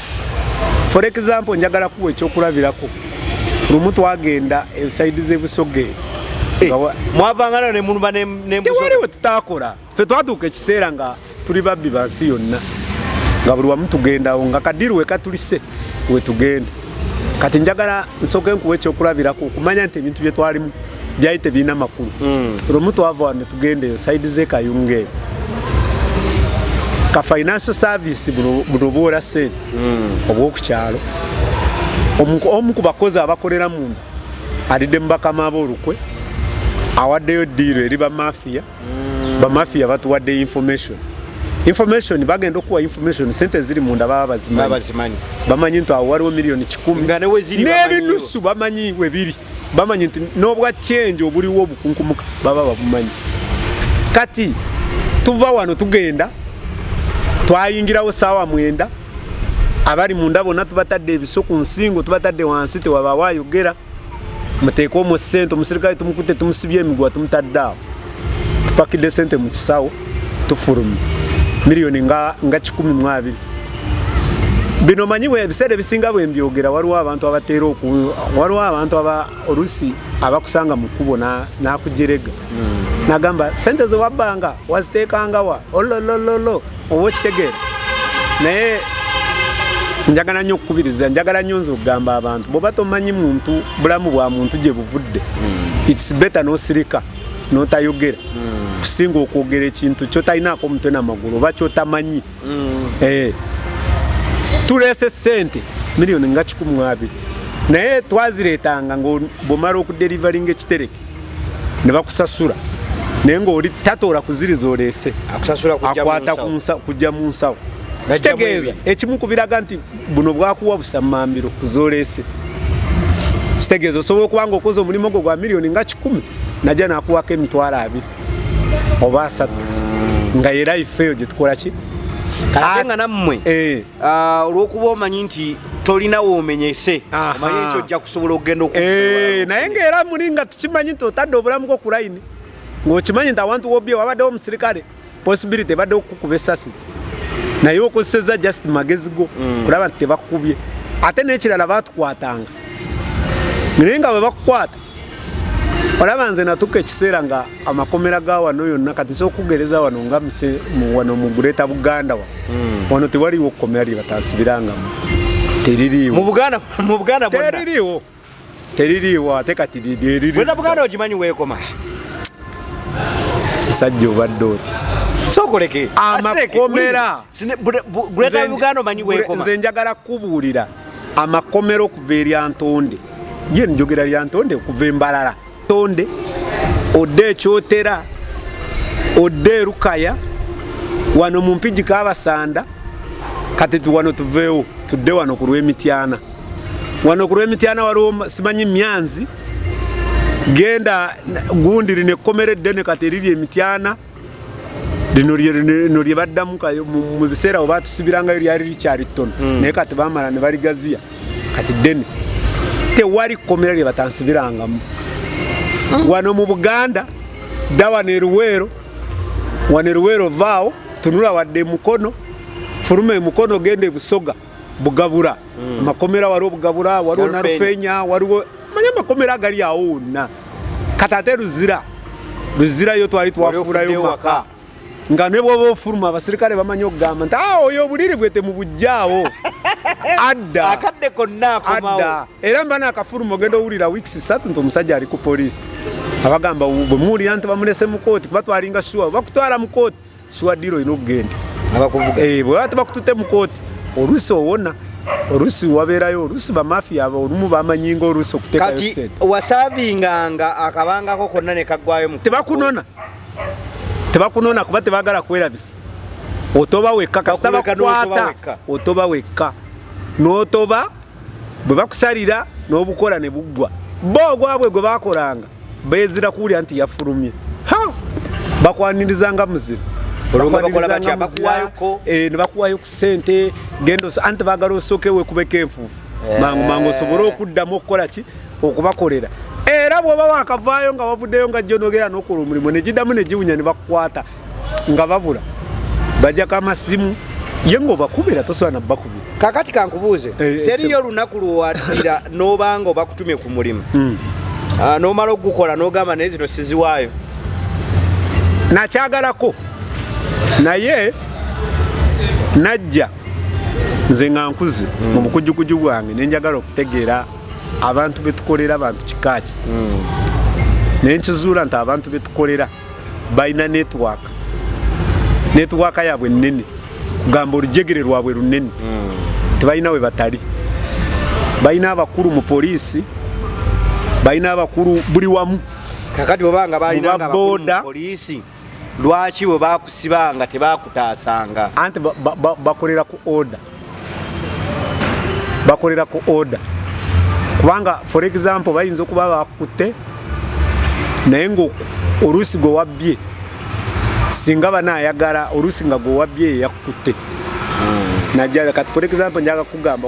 for example njagala kuwa ekyokulabirako lumu twagenda ensaidi zebusoge eh, mwavangana nemuluba newaliwo tutakola fe twatuuka ekiseera nga tuli babbi bansi yonna nga buli wamu tugendawo nga kadiru wekatulise wetugenda kati njagala nsooke nkuwa ekyokulabirako okumanya nti ebintu byetwalimu byali tebirina makulu mm. lumu twava wano tugendeyo saidi ze kayunga eyo ka financial service buno obwola sente mm. obwokukyalo omu ku bakozi abakolera munda alidde mu bakama aba olukwe awaddeyo diiro eri bamafiya mm. bamafiya batuwadde information information bagenda okuwa information sente ziri munda baba bazimanyi bamanyi nti awo waliwo miliyoni kikumi n'ebinusu bamanyi webiri bamanyi nti n'obwa kyenje obuliwo obukunkumuka baba babumanyi kati tuva wano tugenda twayingirawo saawa mwenda abali munda bonna tubatadde ebiso ku nsingo tubatadde wansi tewabaawo ayogera muteeke omu sente omusirikale tumukute tumusibye emiguwa tumutadde awo tupakidde sente mu kisawo tufulumye miliyoni nga, nga kikumi mu abiri bino manyi ebiseera ebisinga bwe mbyogera waliwo abantu abateera oku waliwo abantu aba oluusi abakusanga mu kkubo n'akujerega hmm. nagamba sente ze wabbanga waziteekangawa ololololo oba okitegeera naye njagala nnyo okukubiriza njagala nnyo nze okugamba abantu bwoba tomanyi muntu bulamu bwa muntu gye buvudde hmm. its better nosirika notayogera mm. kusinga okwogera ekintu kyotalinaako omutwe namagulu oba kyotamanyi mm. eh. tuleese sente miliyoni nga kikumu abiri naye twazireetanga nga bwomala okuderivaringa ekitereke ne bakusasula naye ngaoli tatoora kuziriza oleese akwata kujja mu nsawo kitegeeza ekimu kubiraga nti buno bwakuwa busamambiro kuzolese kitegeeza osobola okuba nga okoze omulimu gwo gwa miliyoni nga kikumi najja nakuwako emitwalo abiri oba asatu nga era ifeeyo gyetukola ki ate nga nammwe eh. ah, olwokuba omanyi nti tolina womenyese omanyi nti ojja kusobola okugenda oku eh, naye ngaera muli nga tukimanyi nti otadde obulamu bwo ku layini ngaokimanyi nti awantu wobye wabaddewo omusirikale possibility ebadde okukuba esasi naye okozeseza just magezi go mm. kulaba nti tebakubye ate nekirala batukwatanga naye nga bwebakukwata olaba nze natuka ekiseera nga amakomera ga wano yonna kati sokugereza wano nga wano mu gureta buganda wa mm. wano tewaliwo okukomera lyebataasibirangamu teririwo teririiwo ate kati liririwena buganda ogimanyi weekoma musajja obadde oti sokoleke amakomera greater uganda omanyi weekoma nze njagala kukubuulira amakomera okuva erya ntonde ye njogera lya ntonde okuva embalala tonde odde ekyotera odde erukaya wano mu mpigi kabasanda kati tuwano tuveewo tudde wano ku lwemityana wano ku lwemityana waliwo simanyi myanzi genda gundiri nekkomera eddene kati eriri emityana lino lino lye baddamu kayo mu biseera we batusibirangayo lyali likyali ttono hmm. naye kati bamala ne baligaziya kati ddene tewali kkomera lye batansibirangamu hmm. wano mu buganda dda wano eruweero wano eruweero vaawo tunula wadde emukono fuluma emukono genda ebusoga bugabura mm. amakomera waliwo bugabura waliwo narufenya waliwo manya amakomera agali awo wonna kati ate luzira luzira yo twali twafuulayo maka nga ne bwoba ofuluma abasirikale bamanyi okugamba nti ah, oyo obuliri bwe temubujjaawo adda akadde konna akomawo era mba nakafuluma ogenda owulira weeks satu nti omusajja ali ku poliisi abagamba bwe muwulira nti bamulese mu kooti kuba twalinga shuwa bakutwala mu kooti siwa diro olina okugenda abakuvuga eh, bwe baba tebakutute mu kooti oluusi owona oluusi wabeerayo oluusi bamafiya olumu bamanyinga oluusi okutekati wasavinganga akabangako konna nekagwayo tebakunona tebakunona kuba tebagala kwerabisa otoba wekka kasita bakukwata otoba wekka n'otoba bwe bakusalira n'obukola ne buggwa bo ogwabwe gwe bakolanga Bezira kuwulira nti yafulumye. Ha! Bakwaniriza nga muzira. Olunga bakola batya bakuwayo ko. Eh, ne bakuwayo ku sente gendo anti bagala osoke we kubeka enfufu. Eh. Mangu mangu osobole okuddamu okukola ki okubakolera. Era bw'oba wakavaayo nga wavuddeyo nga jjonogera n'okola omulimu ne giddamu ne giwunya ne bakukwata. nga babula bajako amasimu ye nga obakubira tosobola nabakubira kakati kankubuuze eh, eh, teriyo olunaku lwowadira nobanga obakutumye ku mulimu hmm. ah, nomala okugukola nogamba naye zino siziwaayo nakyagalako naye najja nze nga nkuze hmm. mu bukujukuju bwange nenjagala okutegeera abantu betukolera abantu kikaaki hmm. nenkizuula nti abantu betukolera balina network network yaabwe nnene kugamba olujegere lwabwe lunene hmm. tebalina we batali balina abakulu mu poliisi balina abakulu buli wamu kakati obanga balina nga abakulu mu poliisi lwaki bwe bakusibanga tebakutaasanga anti bakolera ku order bakolera ku order kubanga for example bayinza okuba bakutte naye nga oluusi gwe wabbye singa bana ayagala oluusi nga gwe wabbye eyakutte hmm. najaa kati for example njaga kugamba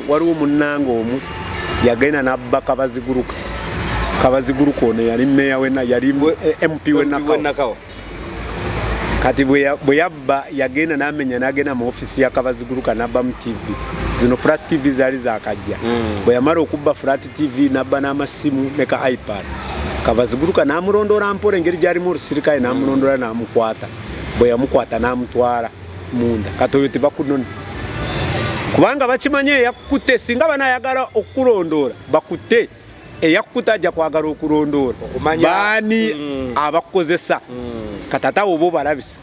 waliwo munnanga omu yagenda nabba kabaziguruka kabaziguruka ono yali meya wena yali eh, mp wenakawa kati bwe yabba yagenda namenya nagenda mu ofisi ya kabaziguruka nabbamu tv zino flat tv zaali zakajja mm. bwe yamala okubba flat tv nabba n'amasimu ne ka ipad kabaziguruka namulondoola mpola engeri gyalimu olusirikaye namulondoola mm. namukwata bwe yamukwata namutwala munda kati oyo tebakunona kubanga bakimanyi eyakukutte singa banayagala okukulondoola bakutte eyakkuta ajja kwagala okulondoola baani mm. abakukozesa mm. katata oba obalabisa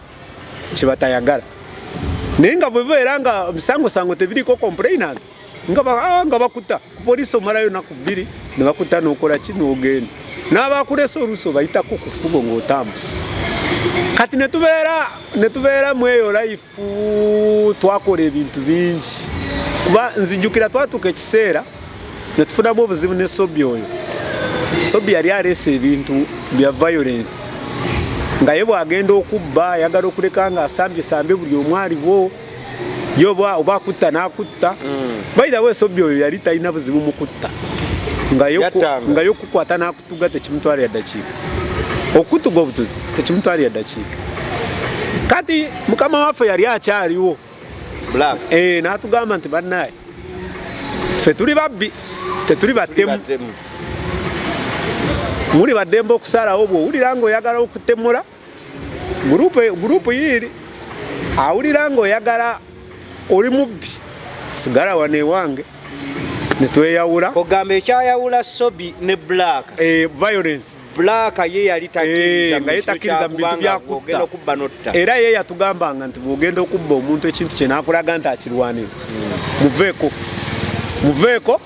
kyebatayagala naye nga bwebeera nga bisangosango tebiriko complainant nga ah, bakuta kupoliisi omalayo naku bbiri nebakuta nokola ki nogenda n'abakulesa oluusi obayitako ku kkubo ng'otambula kati netubeera netubeera mweyo life twakola ebintu bingi kuba nzijukira twatuuka ekiseera ne tufunamu obuzibu ne sobi oyo sobi yali aleese ebintu bya violence nga ye bwagenda okubba ayagala okuleka nga asambye sambe buli omwaliwo yo oba akutta n'akutta mm. bairawo esobi oyo yali talina buzibu mu kutta nga yo kukwata n'akutta okutuga tekimutwalira ddakiika okutuga obutuzi tekimutwalira ddakiika kati mukama waffe yali akyaliwo eh, natugamba nti banaye fe tuli babbi tetuli battemu muli baddembe okusalawo bwowulira nga oyagala okutemula gurupu yiiri awulira ng'oyagala oli mubbi sigala wano ewange netweyawula ogamba ekyayawula sobi ne black eh, violence black ye yali eh, nga yetakkiriza mu bintu byakutta okubba notta era ye yatugambanga nti bwogenda okubba omuntu ekintu kye nakulaga nti akirwanira hmm. muveeko muveeko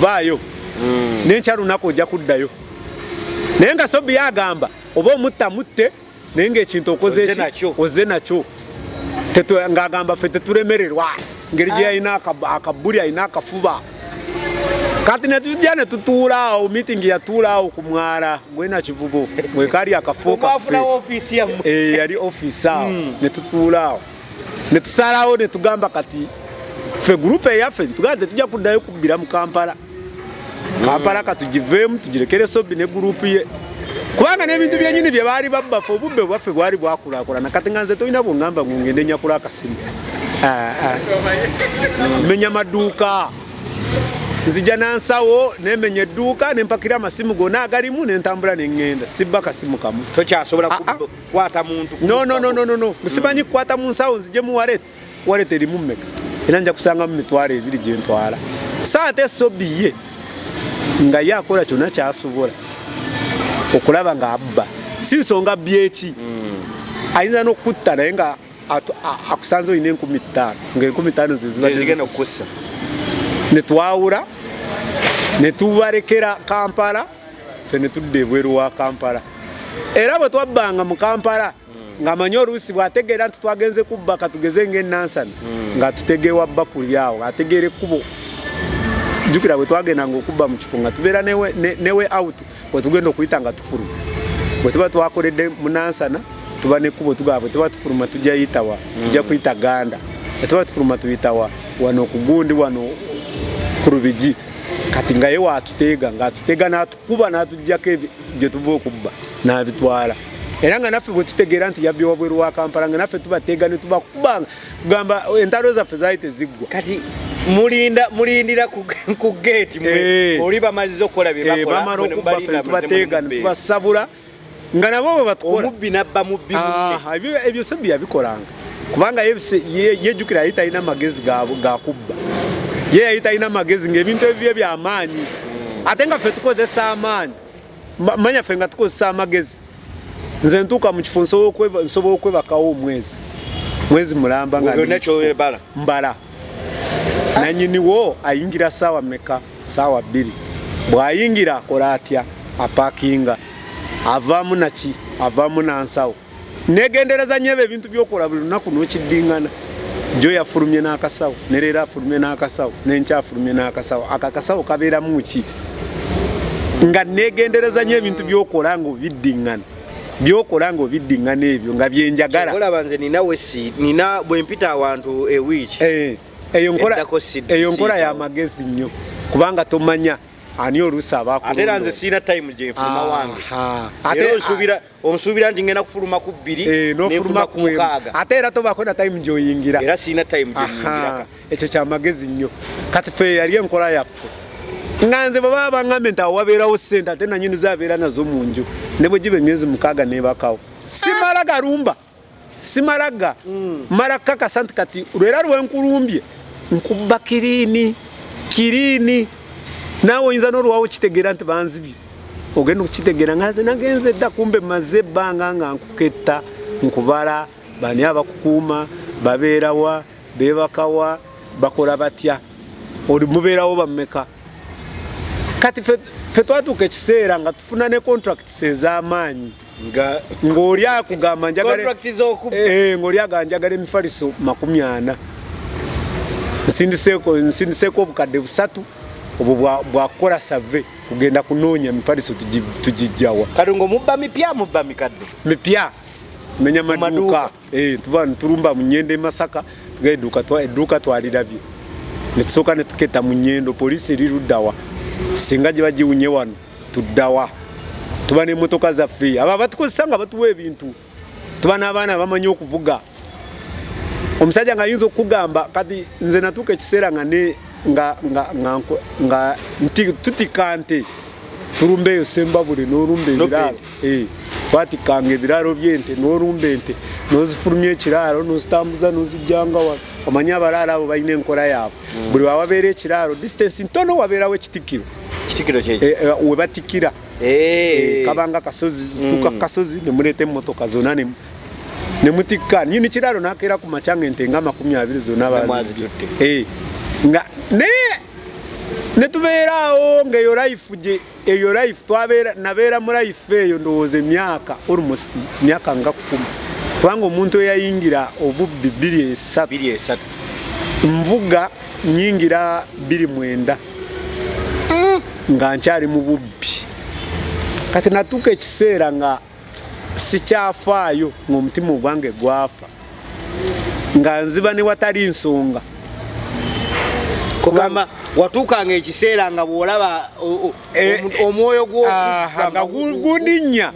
vaayo hmm. nenkya lunaku ojja kuddayo naye nga sobi yagamba oba omutta mutte naye ngaekintu okoze oze nakyo ngagamba ffe tetulemererwa ngeri gye yalina akabbuli alina akafuba kati netujja netutuula awo meeting yatuula awo ku mwala gwena kivubo mwekali akafo kaffe eh, yali office awo hmm. netutuula awo netusalawo netugamba kati ffe gurupe eyaffe tugaa tetujja kuddayo kubbira mu kampala kampala katugiveemu tugirekere sobi ne gurupu ye kubanga n'ebintu byenyini bye baali babbafe obubbe bwaffe bwali bwakulakulana kati nga nze tolina bungamba ngu ngende nyakula akasimu ah, ah. menya maduuka nzija nansawo nemenya edduuka nempakira amasimu gona agalimu nentambula nengenda sibba kasimu kamu tokyasobola ah, kukwata muntu nonononono musimanyi kukwata munsawo nzije muwalet waleta erimu mmeka era nja kusangamu mitwalo ebiri gye ntwala so ate sobi ye nga ye akola kyonna kyasobola okulaba nga abba si nsonga byeki hmm. ayinza n'okutta naye nga akusanze olina enkumi ttaano ngaenkumi ttaano zezibagenda okukussa netwawula netubalekera kampala fe netudda ebweru wa kampala era bwe twabbanga mu kampala hmm. ng'amanyi oluusi bw'ategeera nti twagenze kubba katugeze ng'enansana hmm. ng'atutegeewa bba kulyawo ng'ategeera ekkubo jjukira bwe twagenda ng'okubba mu kifo nga tubeera newe out bwe tugenda okuyita nga tufuluma bwe tuba twakoledde munansana tuba nekkubo tugaba bwe tuba tufuluma tujja yitawa tujja hmm. kuyita ganda bwe tuba tufuluma tuyitawa wano ku gundi wano ku lubigi kati nga ye waatuteega ng'atuteega n'atukuba n'atuggyako gye tuva okubba n'abitwala era nga naffe bwekitegeera nti yabbi wabweru wa kampala nga naffe tubateega ne tubakubanga kugamba entalo zaffe zaali teziggwa kati mulinda mulindira ku geeti mwe eh. oli bamaliza okukola byebakolatubateega eh, tubasabula nga nabo bwe batukola omubbi nabba mubbi ebyo sebbi yabikolanga kubanga yejjukira yali talina magezi gakubba ye yali talina magezi ngaebintu ebibye byamaanyi ate nga ffe tukozesa amaanyi manya ffe nga tukozesa amagezi nze ntuuka mu kifo nsobola okwebakawo omwezi mwezi mulamba ngakyobala mbala nanyiniwo ayingira saawa meka saawa bbiri bwayingira akola atya apakinga avaamu naki avaamu nansawo negendereza nyo ebyo ebintu byokola buli lunaku nokiddingana jo yafulumye n'akasawo ne leero afulumye n'akasawo nenkya afulumye n'akasawo ako akasawo kabeeramu ki nga negendereza nyo ebintu byokola nga obiddingana byokola nga obiddingana ebyo nga byenjagala olaba nze ninawe si nina bwempita awantu ewiiki eh, eyo nkola eyo nkola ya magezi nnyo kubanga tomanya ani oluusi abakulonda ate era nze siina time gyenfuna wange ate nsubira onsuubira nti ngenda kufuluma ku bbiri eh, nefuluma ku mukaaga ate era tobaako na time gyoyingira era sirina time gyenyingiraka ekyo kyamagezi nnyo kati fe yali enkola yaffe nga nze bwebaba bangambye nti awo wabeerawo sente ate nanyini zabeera nazo mu nju ne bwe giba emyezi mukaaga nebakawo simala galumba simalaga mm. mala kakasa nti kati lwera lwenkulumbye nkuba kirini kirini naawe oyinza nolwawo kitegeera nti banzibye ogenda okukitegeera nga nze nagenze dda kumbe maze ebbanga nga nkuketta nkubala bani abakukuuma babeerawa bebakawa bakola batya oli mubeerawo bameka kati fe twatuuka ekiseera nga tufuna ne contracts ez'amaanyi nga ng'oli akugamba njagalengaoli eh, aga njagala emifaliso makumi ana nsindiseeko nsindiseeko obukadde busatu obwo bwakukola save kugenda kunoonya mifaliso tugijjawa kati ngaomubba mipya mubba mikadde mipya menya maduuka eh, tuba nitulumba mu nyendo e masaka tuga edduuka twalirabye netusooka netuketa mu nyendo poliisi eriruddawa singa gye bagiwunye wano tuddawa tuba n'emmotoka zaffe abo abatukozesa nga batuwa ebintu tuba n'abaana abamanyi okuvuga omusajja nga ayinza okukugamba kati nze natuuka ekiseera nga ne nga nga nga nga tutika nte tulumba eyo sembabule n'olumba ebiraalo Eh, twatikanga ebiraalo by'ente n'olumba ente n'ozifulumya ekiraalo n'ozitambuza n'ozijjanga wano omanyi abalaalo abo balina enkola yaabwe mm. buli wawabeera ekiraalo distance ntono wabeerawo ekitikkiro eh, eh, we batikkira kabanga kasozi zituuka mm. kasozi ne muleeta emmotoka zonna ne mutikka nyini kiraalo n'akeera ku makyanga ente nga amakumi abiri zonna bazitutte nga naye ne tubeeraawo ng'eyo life gye eyo life twabeera nabeera mu life eyo ndowooza emyaka almost myaka nga kkumi kubanga omuntu eyayingira obubbi bbiri esatu nvuga nyingira bbiri mwenda mm. nga nkyali mu bubbi kati natuuka ekiseera nga sikyafaayo ng'omutima ogwange gwafa nga nziba ne watali nsonga kugamba watuukanga ekiseera nga bw'olaba eh, omwoyo gwonga gulinnya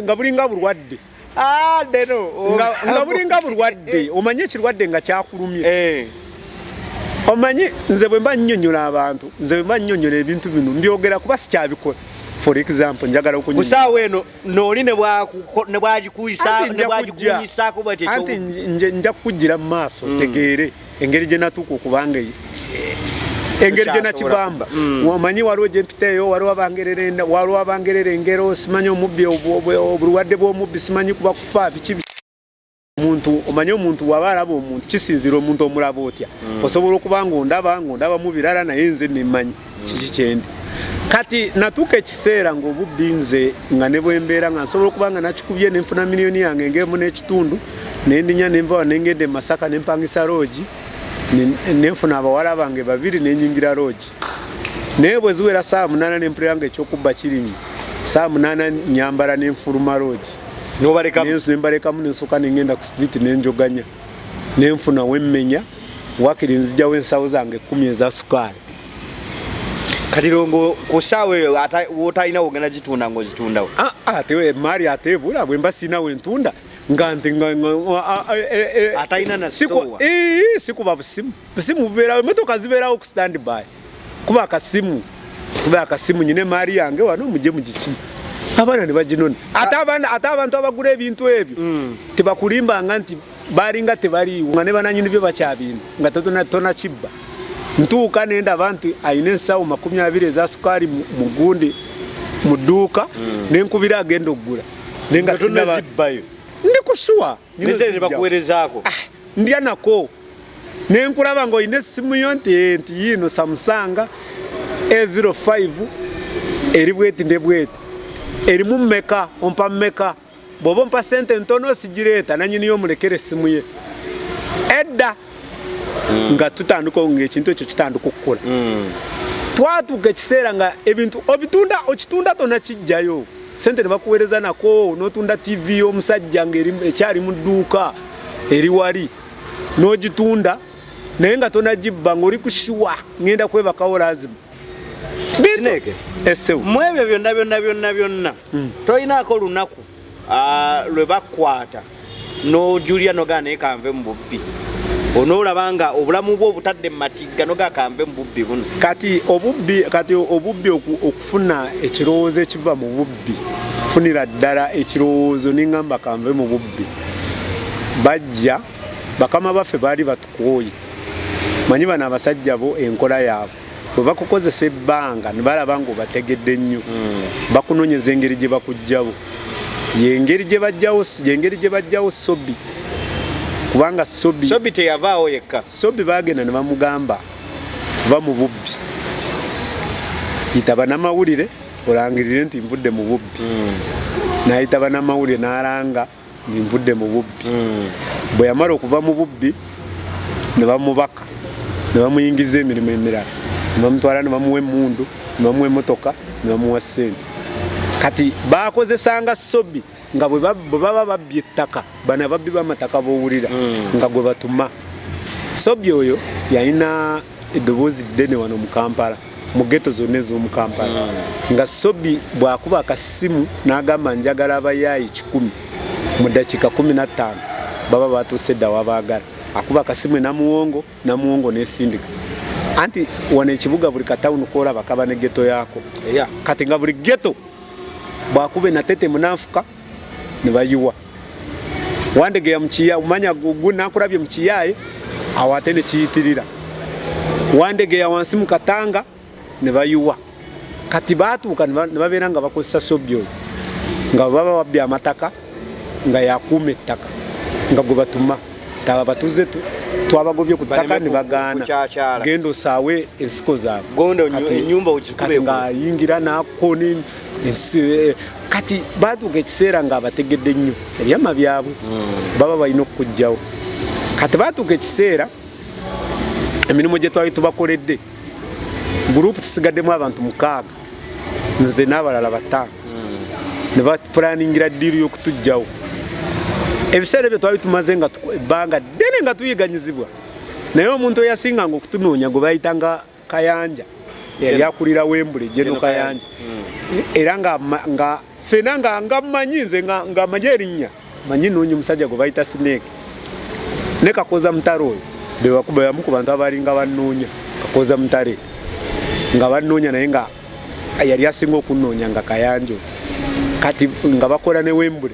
nga bulinga bulwadde Ah, nga bulinga bulwadde omanyi ekirwadde nga kyakulumye eh. omanyi nze bwe mba nnyonnyola abantu nze bwe mba nnyonnyola ebintu bino mbyogera kuba sikyabikola for example njagala okunyusaawa eno nooli nebwagikuyisaako bwekyo nja kukujjira mu maaso mm. tegeere engeri gye natuuka okubanga eyo engeri gye nakibamba mm. omanyi waliwo gye mpita eyo waliwo abangererenda waliwo abangerera engero simanyi omubbi obulwadde bw'omubbi simanyi kuba kufa biki omuntu omanyi omuntu waba alaba omuntu kisinzira omuntu omulaba otya mm. osobola okuba nga ondaba nga ondaba mu birala naye nze nemmanyi kiki kyendi kati natuuka ekiseera ng'obubbi nze nga ne bwembeera nga nsobola okuba nga nakikubye nenfuna miliyoni yange ng'emu n'ekitundu nendinya nenvawa nengenda e masaka nempangisa loogi nenfuna abawala bange babiri nenyingira loogi naye bwe ziwera saawa munaana nempulira nga ekyokubba kirinyi saawa munaana nyambala nenfuluma loogi nembalekamu nensoka nengenda ku street nenjoganya nenfuna wemmenya wakiri nzijawo ensawo zange kumi eza sukaali kati longo kusaawa eyo wotalina wogenda gitunda ngaogitundawo ah, ah, emaali ate ebula bwemba sirina wentunda nga nti atalina nasikuba busimu busimu bubeerawo emotoka zibeerawo ku standby kuba akasimu kuba akasimu nyine maari yange wano mujje mugiki abaana nebaginona ate abantu abagula ebintu ebyo mm. tebakulimbanga nti balinga tebaliiwo nga ne bananyini byo bakyabintu nga tona kibba ntuuka nenda abantu ayina ensawo makumi abiri eza sukaali mu gundi mu dduuka mm. nenkubira agenda okugula nenga ndi kusuwa nebakuwerezaako ah. ndya nako ne nkulaba ng'olina essimu yo nti eh, nti yiino samusanga a05 eri bweti nde bweti erimu mmeka ompa mmeka bw'oba ompa sente ntono sigireeta nanyiniyo omulekera essimu ye edda hmm. nga tutandika ngaekintu ekyo kitandika okukula hmm. twatuuka ekiseera nga ebintu obitunda okitunda tona kijjayo sente ne bakuweereza nako n'otunda ttivi y'omusajja ng'ekyali mu dduuka eri wali n'ogitunda naye nga tonagibba ng'oli ku shiwa ng'enda kwebakawo lazimu sineke mu ebyo byonna byonna byonna byonna hmm. tolinaako lunaku ah, lwe bakwata nojulira nogaa naye kanve mu bubbi onoolaba nga obulamu bwe obutadde mu matigga nogaa kanve mu bubbi buno kati obubbi kati obubbi okufuna ekirowoozo ekiva mu bubbi funira ddala ekirowoozo nengamba kanve mu bubbi bajja bakama baffe baali batukooye manyi bano abasajja bo enkola yaabwe bwe bakukozesa ebbanga ne balaba ng'obategedde nnyo hmm. bakunoonyeza engeri gye bakuggyabo yengeri gye bajjawo yengeri gye bajjawo sobi kubanga sobi sobi teyavaawo yekka sobi baagenda ne bamugamba va mu bubbi yitaba n'amawulire olangirire nti nvudde mu bubbi hmm. n'ayitaba n'amawulire n'alanga nvudde mu bubbi hmm. bwe yamala okuva mu bubbi ne bamubaka ne bamuyingiza emirimu emirala ne bamutwala ne bamuwa emundu ne bamuwa emotoka ne bamuwa sente kati bakozesanga sobi nga bwe baba babbye ettaka bana babbi bamataka bowulira hmm. nga gwe batuma sobi oyo yalina eddoboozi ddene wano mu kampala mu geto zonna ez'omu kampala hmm. nga sobi bw'akuba akasimu n'agamba njagala abayaayi kikumi mu ddakiika kumi na ttaano baba batuuse dda wabaagala akuba akasimu enamuwongo namuwongo n'esindika anti wano ekibuga buli katawuni koolaba kaba ne geto yaako kati nga buli geto bw'akuba enatetemu n'anfuka ne bayiwa wandegeya mukiya umanya gugu nakulabye mukiyaye awo ate ne kiyitirira wandegeya wansi mu katanga ne bayiwa kati baatuuka ne babeera nga bakozesa sobyo nga baba babbye amataka nga yakuuma ettaka nga gwe batuma taba batuze twabagobye ku ttaka ne bagaana genda osaawe ensiko zaabwe enyumba ogikube nga ayingira n'akoona kati batuuka ekiseera nga abategedde nnyo ebyama byabwe hmm. baba balina okukugjawo kati batuuka ekiseera emirimu gye twali tubakoledde gurupu tusigaddemu abantu mukaaga nze n'abalala bataano hmm. ne bapulaningira ddiiru y'okutugjawo ebiseera ebyo twali tumaze nga ebbanga ddene nga tuyiganyizibwa naye omuntu eyasinganga okutunoonya gwe bayitanga Kayanja yali akulira Wembley Jeno Kayanja hmm. era nga nga fena nga nga manyi nze nga nga manyi erinya manyi nonyi musajja go baita snake ne kakoza mtaro oyo be bakuba yamu ku bantu abali nga banonya kakoza mtare nga banonya naye nga yali asinga okunonya nga Kayanja kati nga bakola ne Wembley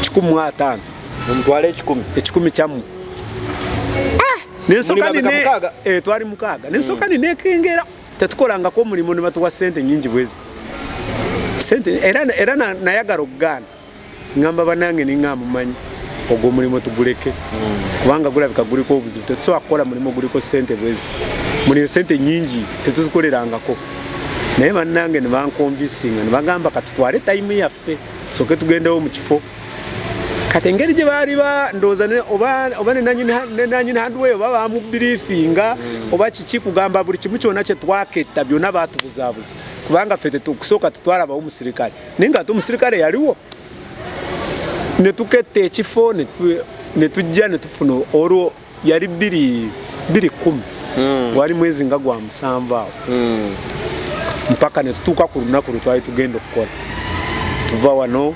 kikumi mu ataano mumutwale ekikumi ekikumi kyammwe ah! nensoka nine eh, twali mukaaga nensoka hmm. ninekengera tetukolangako omulimu ne batuwa sente nyingi bweziti sente era, era nayagala okugaana ngamba banange ningamba mumanyi ogwo omulimu tuguleke hmm. kubanga gulabika guliko obuzibu tetusobola kukola mulimu guliko sente bweziti muliyo sente nyingi tetuzikolerangako naye bannange nebankonvisinga nebagamba kati twale tayimu yaffe soke tugendewo mu kifo kati engeri gye baali bandooza oba nenanyini handway oba bamubirifinga mm. oba kiki kugamba buli kimu kyona kyetwaketta byona batubuzabuza kubanga fe kusooka tetwalabawo omusirikale naye nga ate omusirikale yaliwo netuketta ekifo netujja netufuna olwo yali biri biri kumi mm. wali mwezi nga gwa musanvu awo mm. mpaka netutuuka ku lunaku lwe twali tugenda okukola tuva wano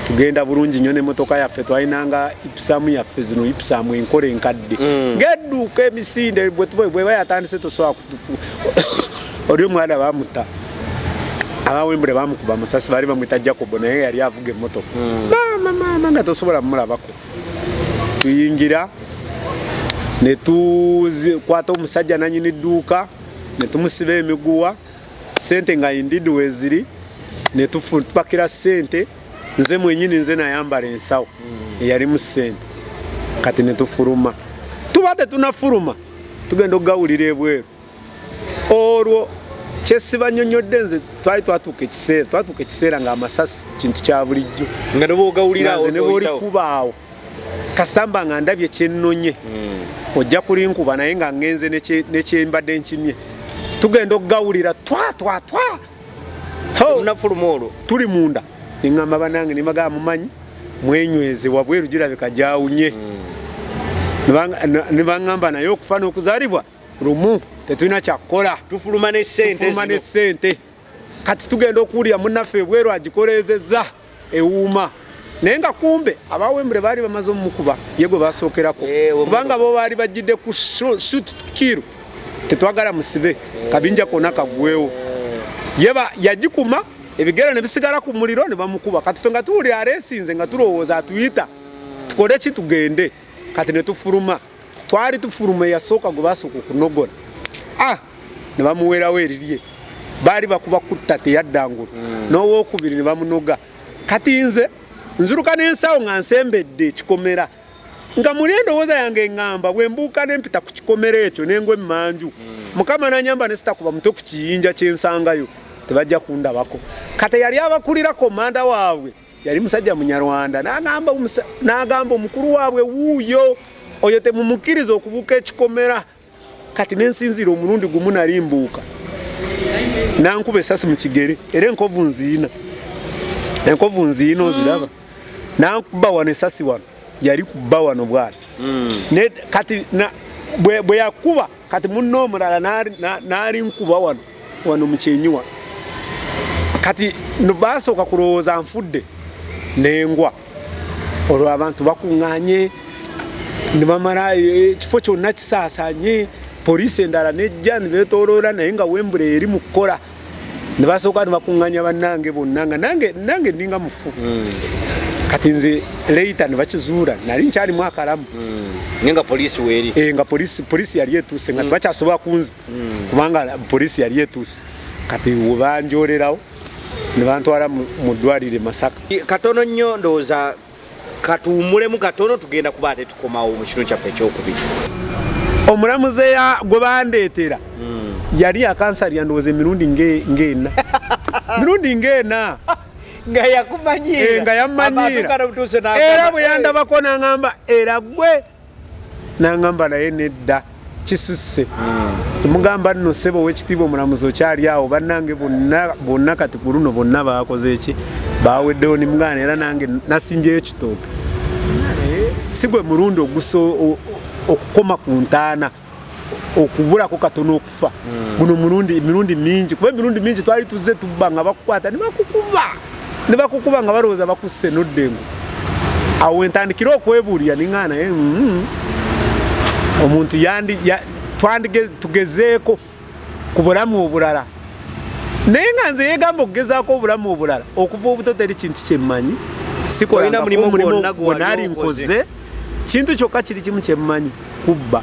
tugenda bulungi nyo nemotoka yaffe twalinanga ipisamu yaffe zino ipisamu enkola enkadde mm. ngeduuka emisinde bweba yatandise tosobola kutuku oli omwana bamuta abawembule bamukuba amasasi baali bamwita jacobo naye yali avuga emotoka mm. mama mama nga tosobola mumulabako tuyingira ne tukwata omusajja nanyini dduuka ne tumusiba emiguwa sente nga indidi weziri ne tupakira sente nze mwenyini nze nayambala ensawo hmm. eyalimu sente kati ne tufuluma tuba tetunafuluma tugenda okugawulira ebweru olwo kyesibanyonyodde nze twali twatuuka ekiseera twatuuka ekiseera nga amasasi kintu kya bulijjo nga nebogawulirawo nebwolikubaawo kasitamba nga ndabye kyenonye hmm. ojja kulinkuba naye nga ngenze nekyembadde nkimye tugenda okugawulira twatwatwa nafuluma olwo tuli munda neŋamba banange nemagaa mumanyi mwenyweze wabweru girabika gyawunye hmm. nebaŋamba naye okufa n'okuzalibwa lumu tetulina kyakukola tufuluma ne sente tufuluma ne sente kati tugenda okuwulira munaffe ebweru agikoleezezza ewuuma naye nga kumbe abawembure baali bamaze omukuba ye gwe basookerako eh, kubanga bo baali bajjidde ku shut kiru tetwagala musibe eh. kabinja kona kagwewo yeba yagikuma ebigero ne bisigala ku muliro ne bamukuba kati fe nga tuwulira aresinze nga tulowooza atuyita tukole ki tugende kati ne tufuluma twali tufuluma eyasooka gwe basooka okunogola ah ne bamuweerawo erirye baali bakuba kutta teyaddangulu mm. n'owokubiri ne bamunoga kati nze nzuruka n'ensawo nga nsembedde ekikomera nga muli endowooza yange eŋŋamba bwe mbuuka ne mpita ku kikomera ekyo nengwa emmanju mm. mukama nanyamba ne sitakuba mutwe ku kiyinja kyensangayo tebajja kundabako kati yali abakulira komanda waabwe yali musajja munyarwanda n'agamba omukulu waabwe wuuyo oyo temumukkiriza okubuuka ekikomera kati nensinziira omulundi gumu nali mbuuka nankuba esasi mu kigere era enkovu nziina enkovu nziina mm. oziraba nankuba wano esasi wano yali kuba wano bwana mm. kati bwe yakuba kati munne omulala n'alinkuba wano wano mu kyenyiwa kati baasooka kulowooza nfudde nengwa olwo abantu bakuŋŋanye ne bamala eh, ekifo kyonna kisaasanye poliisi endala nejja ne beetooloola naye nga wembula eri mu kukola ne basooka ne bakuŋŋanya bannange bonna nga nange nange ndinga mufu hmm. kati nze leita ne bakizuula nali nkyalimu akalamu hmm. naye nga poliisi weeri eh, nga poliisi poliisi yali etuuse nga hmm. tebakyasobola kunzita kubanga poliisi yali etuuse kati webanjoolerawo ne bantwala mu ddwaliro e masaka katono nnyo ndowooza katuwummulemu katono tugenda kuba ate tukomawo mu kitundu kyaffe ekyokubiri omulamuzi gwe bandeetera hmm. yali yakansali yandowooza emirundi ng'ena mirundi ng'ena nga yakumanyiira eh, nga yammanyiira era bwe yandabako n'aŋamba era gwe nangamba naye nedda kisusse hmm. mugamba nno sebo owekitiibwa omulamuzi okyali awo bannange bonna kati ku luno bonna bakoze eki baweddewo ni mugana era nange nasimbyeyo kitooke si gwe mulundi ogusa okukoma ku ntaana okubulako katono okufa hmm. guno mulundi mirundi mingi kuba emirundi mingi twali tuzze tubba nga bakukwata nebakukuba ne bakukuba nga balowooza bakusse noddengo awo wentandikire okwebuulira ninga naye mm, omuntu yandi twandige tugezeeko ku bulamu obulala naye nga nze yegamba okugezaako obulamu obulala okuva obuto teri kintu kyemmanyi sikolinamulimu gwonna gwonna ali nkoze kintu kyokka kiri kimu kyemmanyi kubba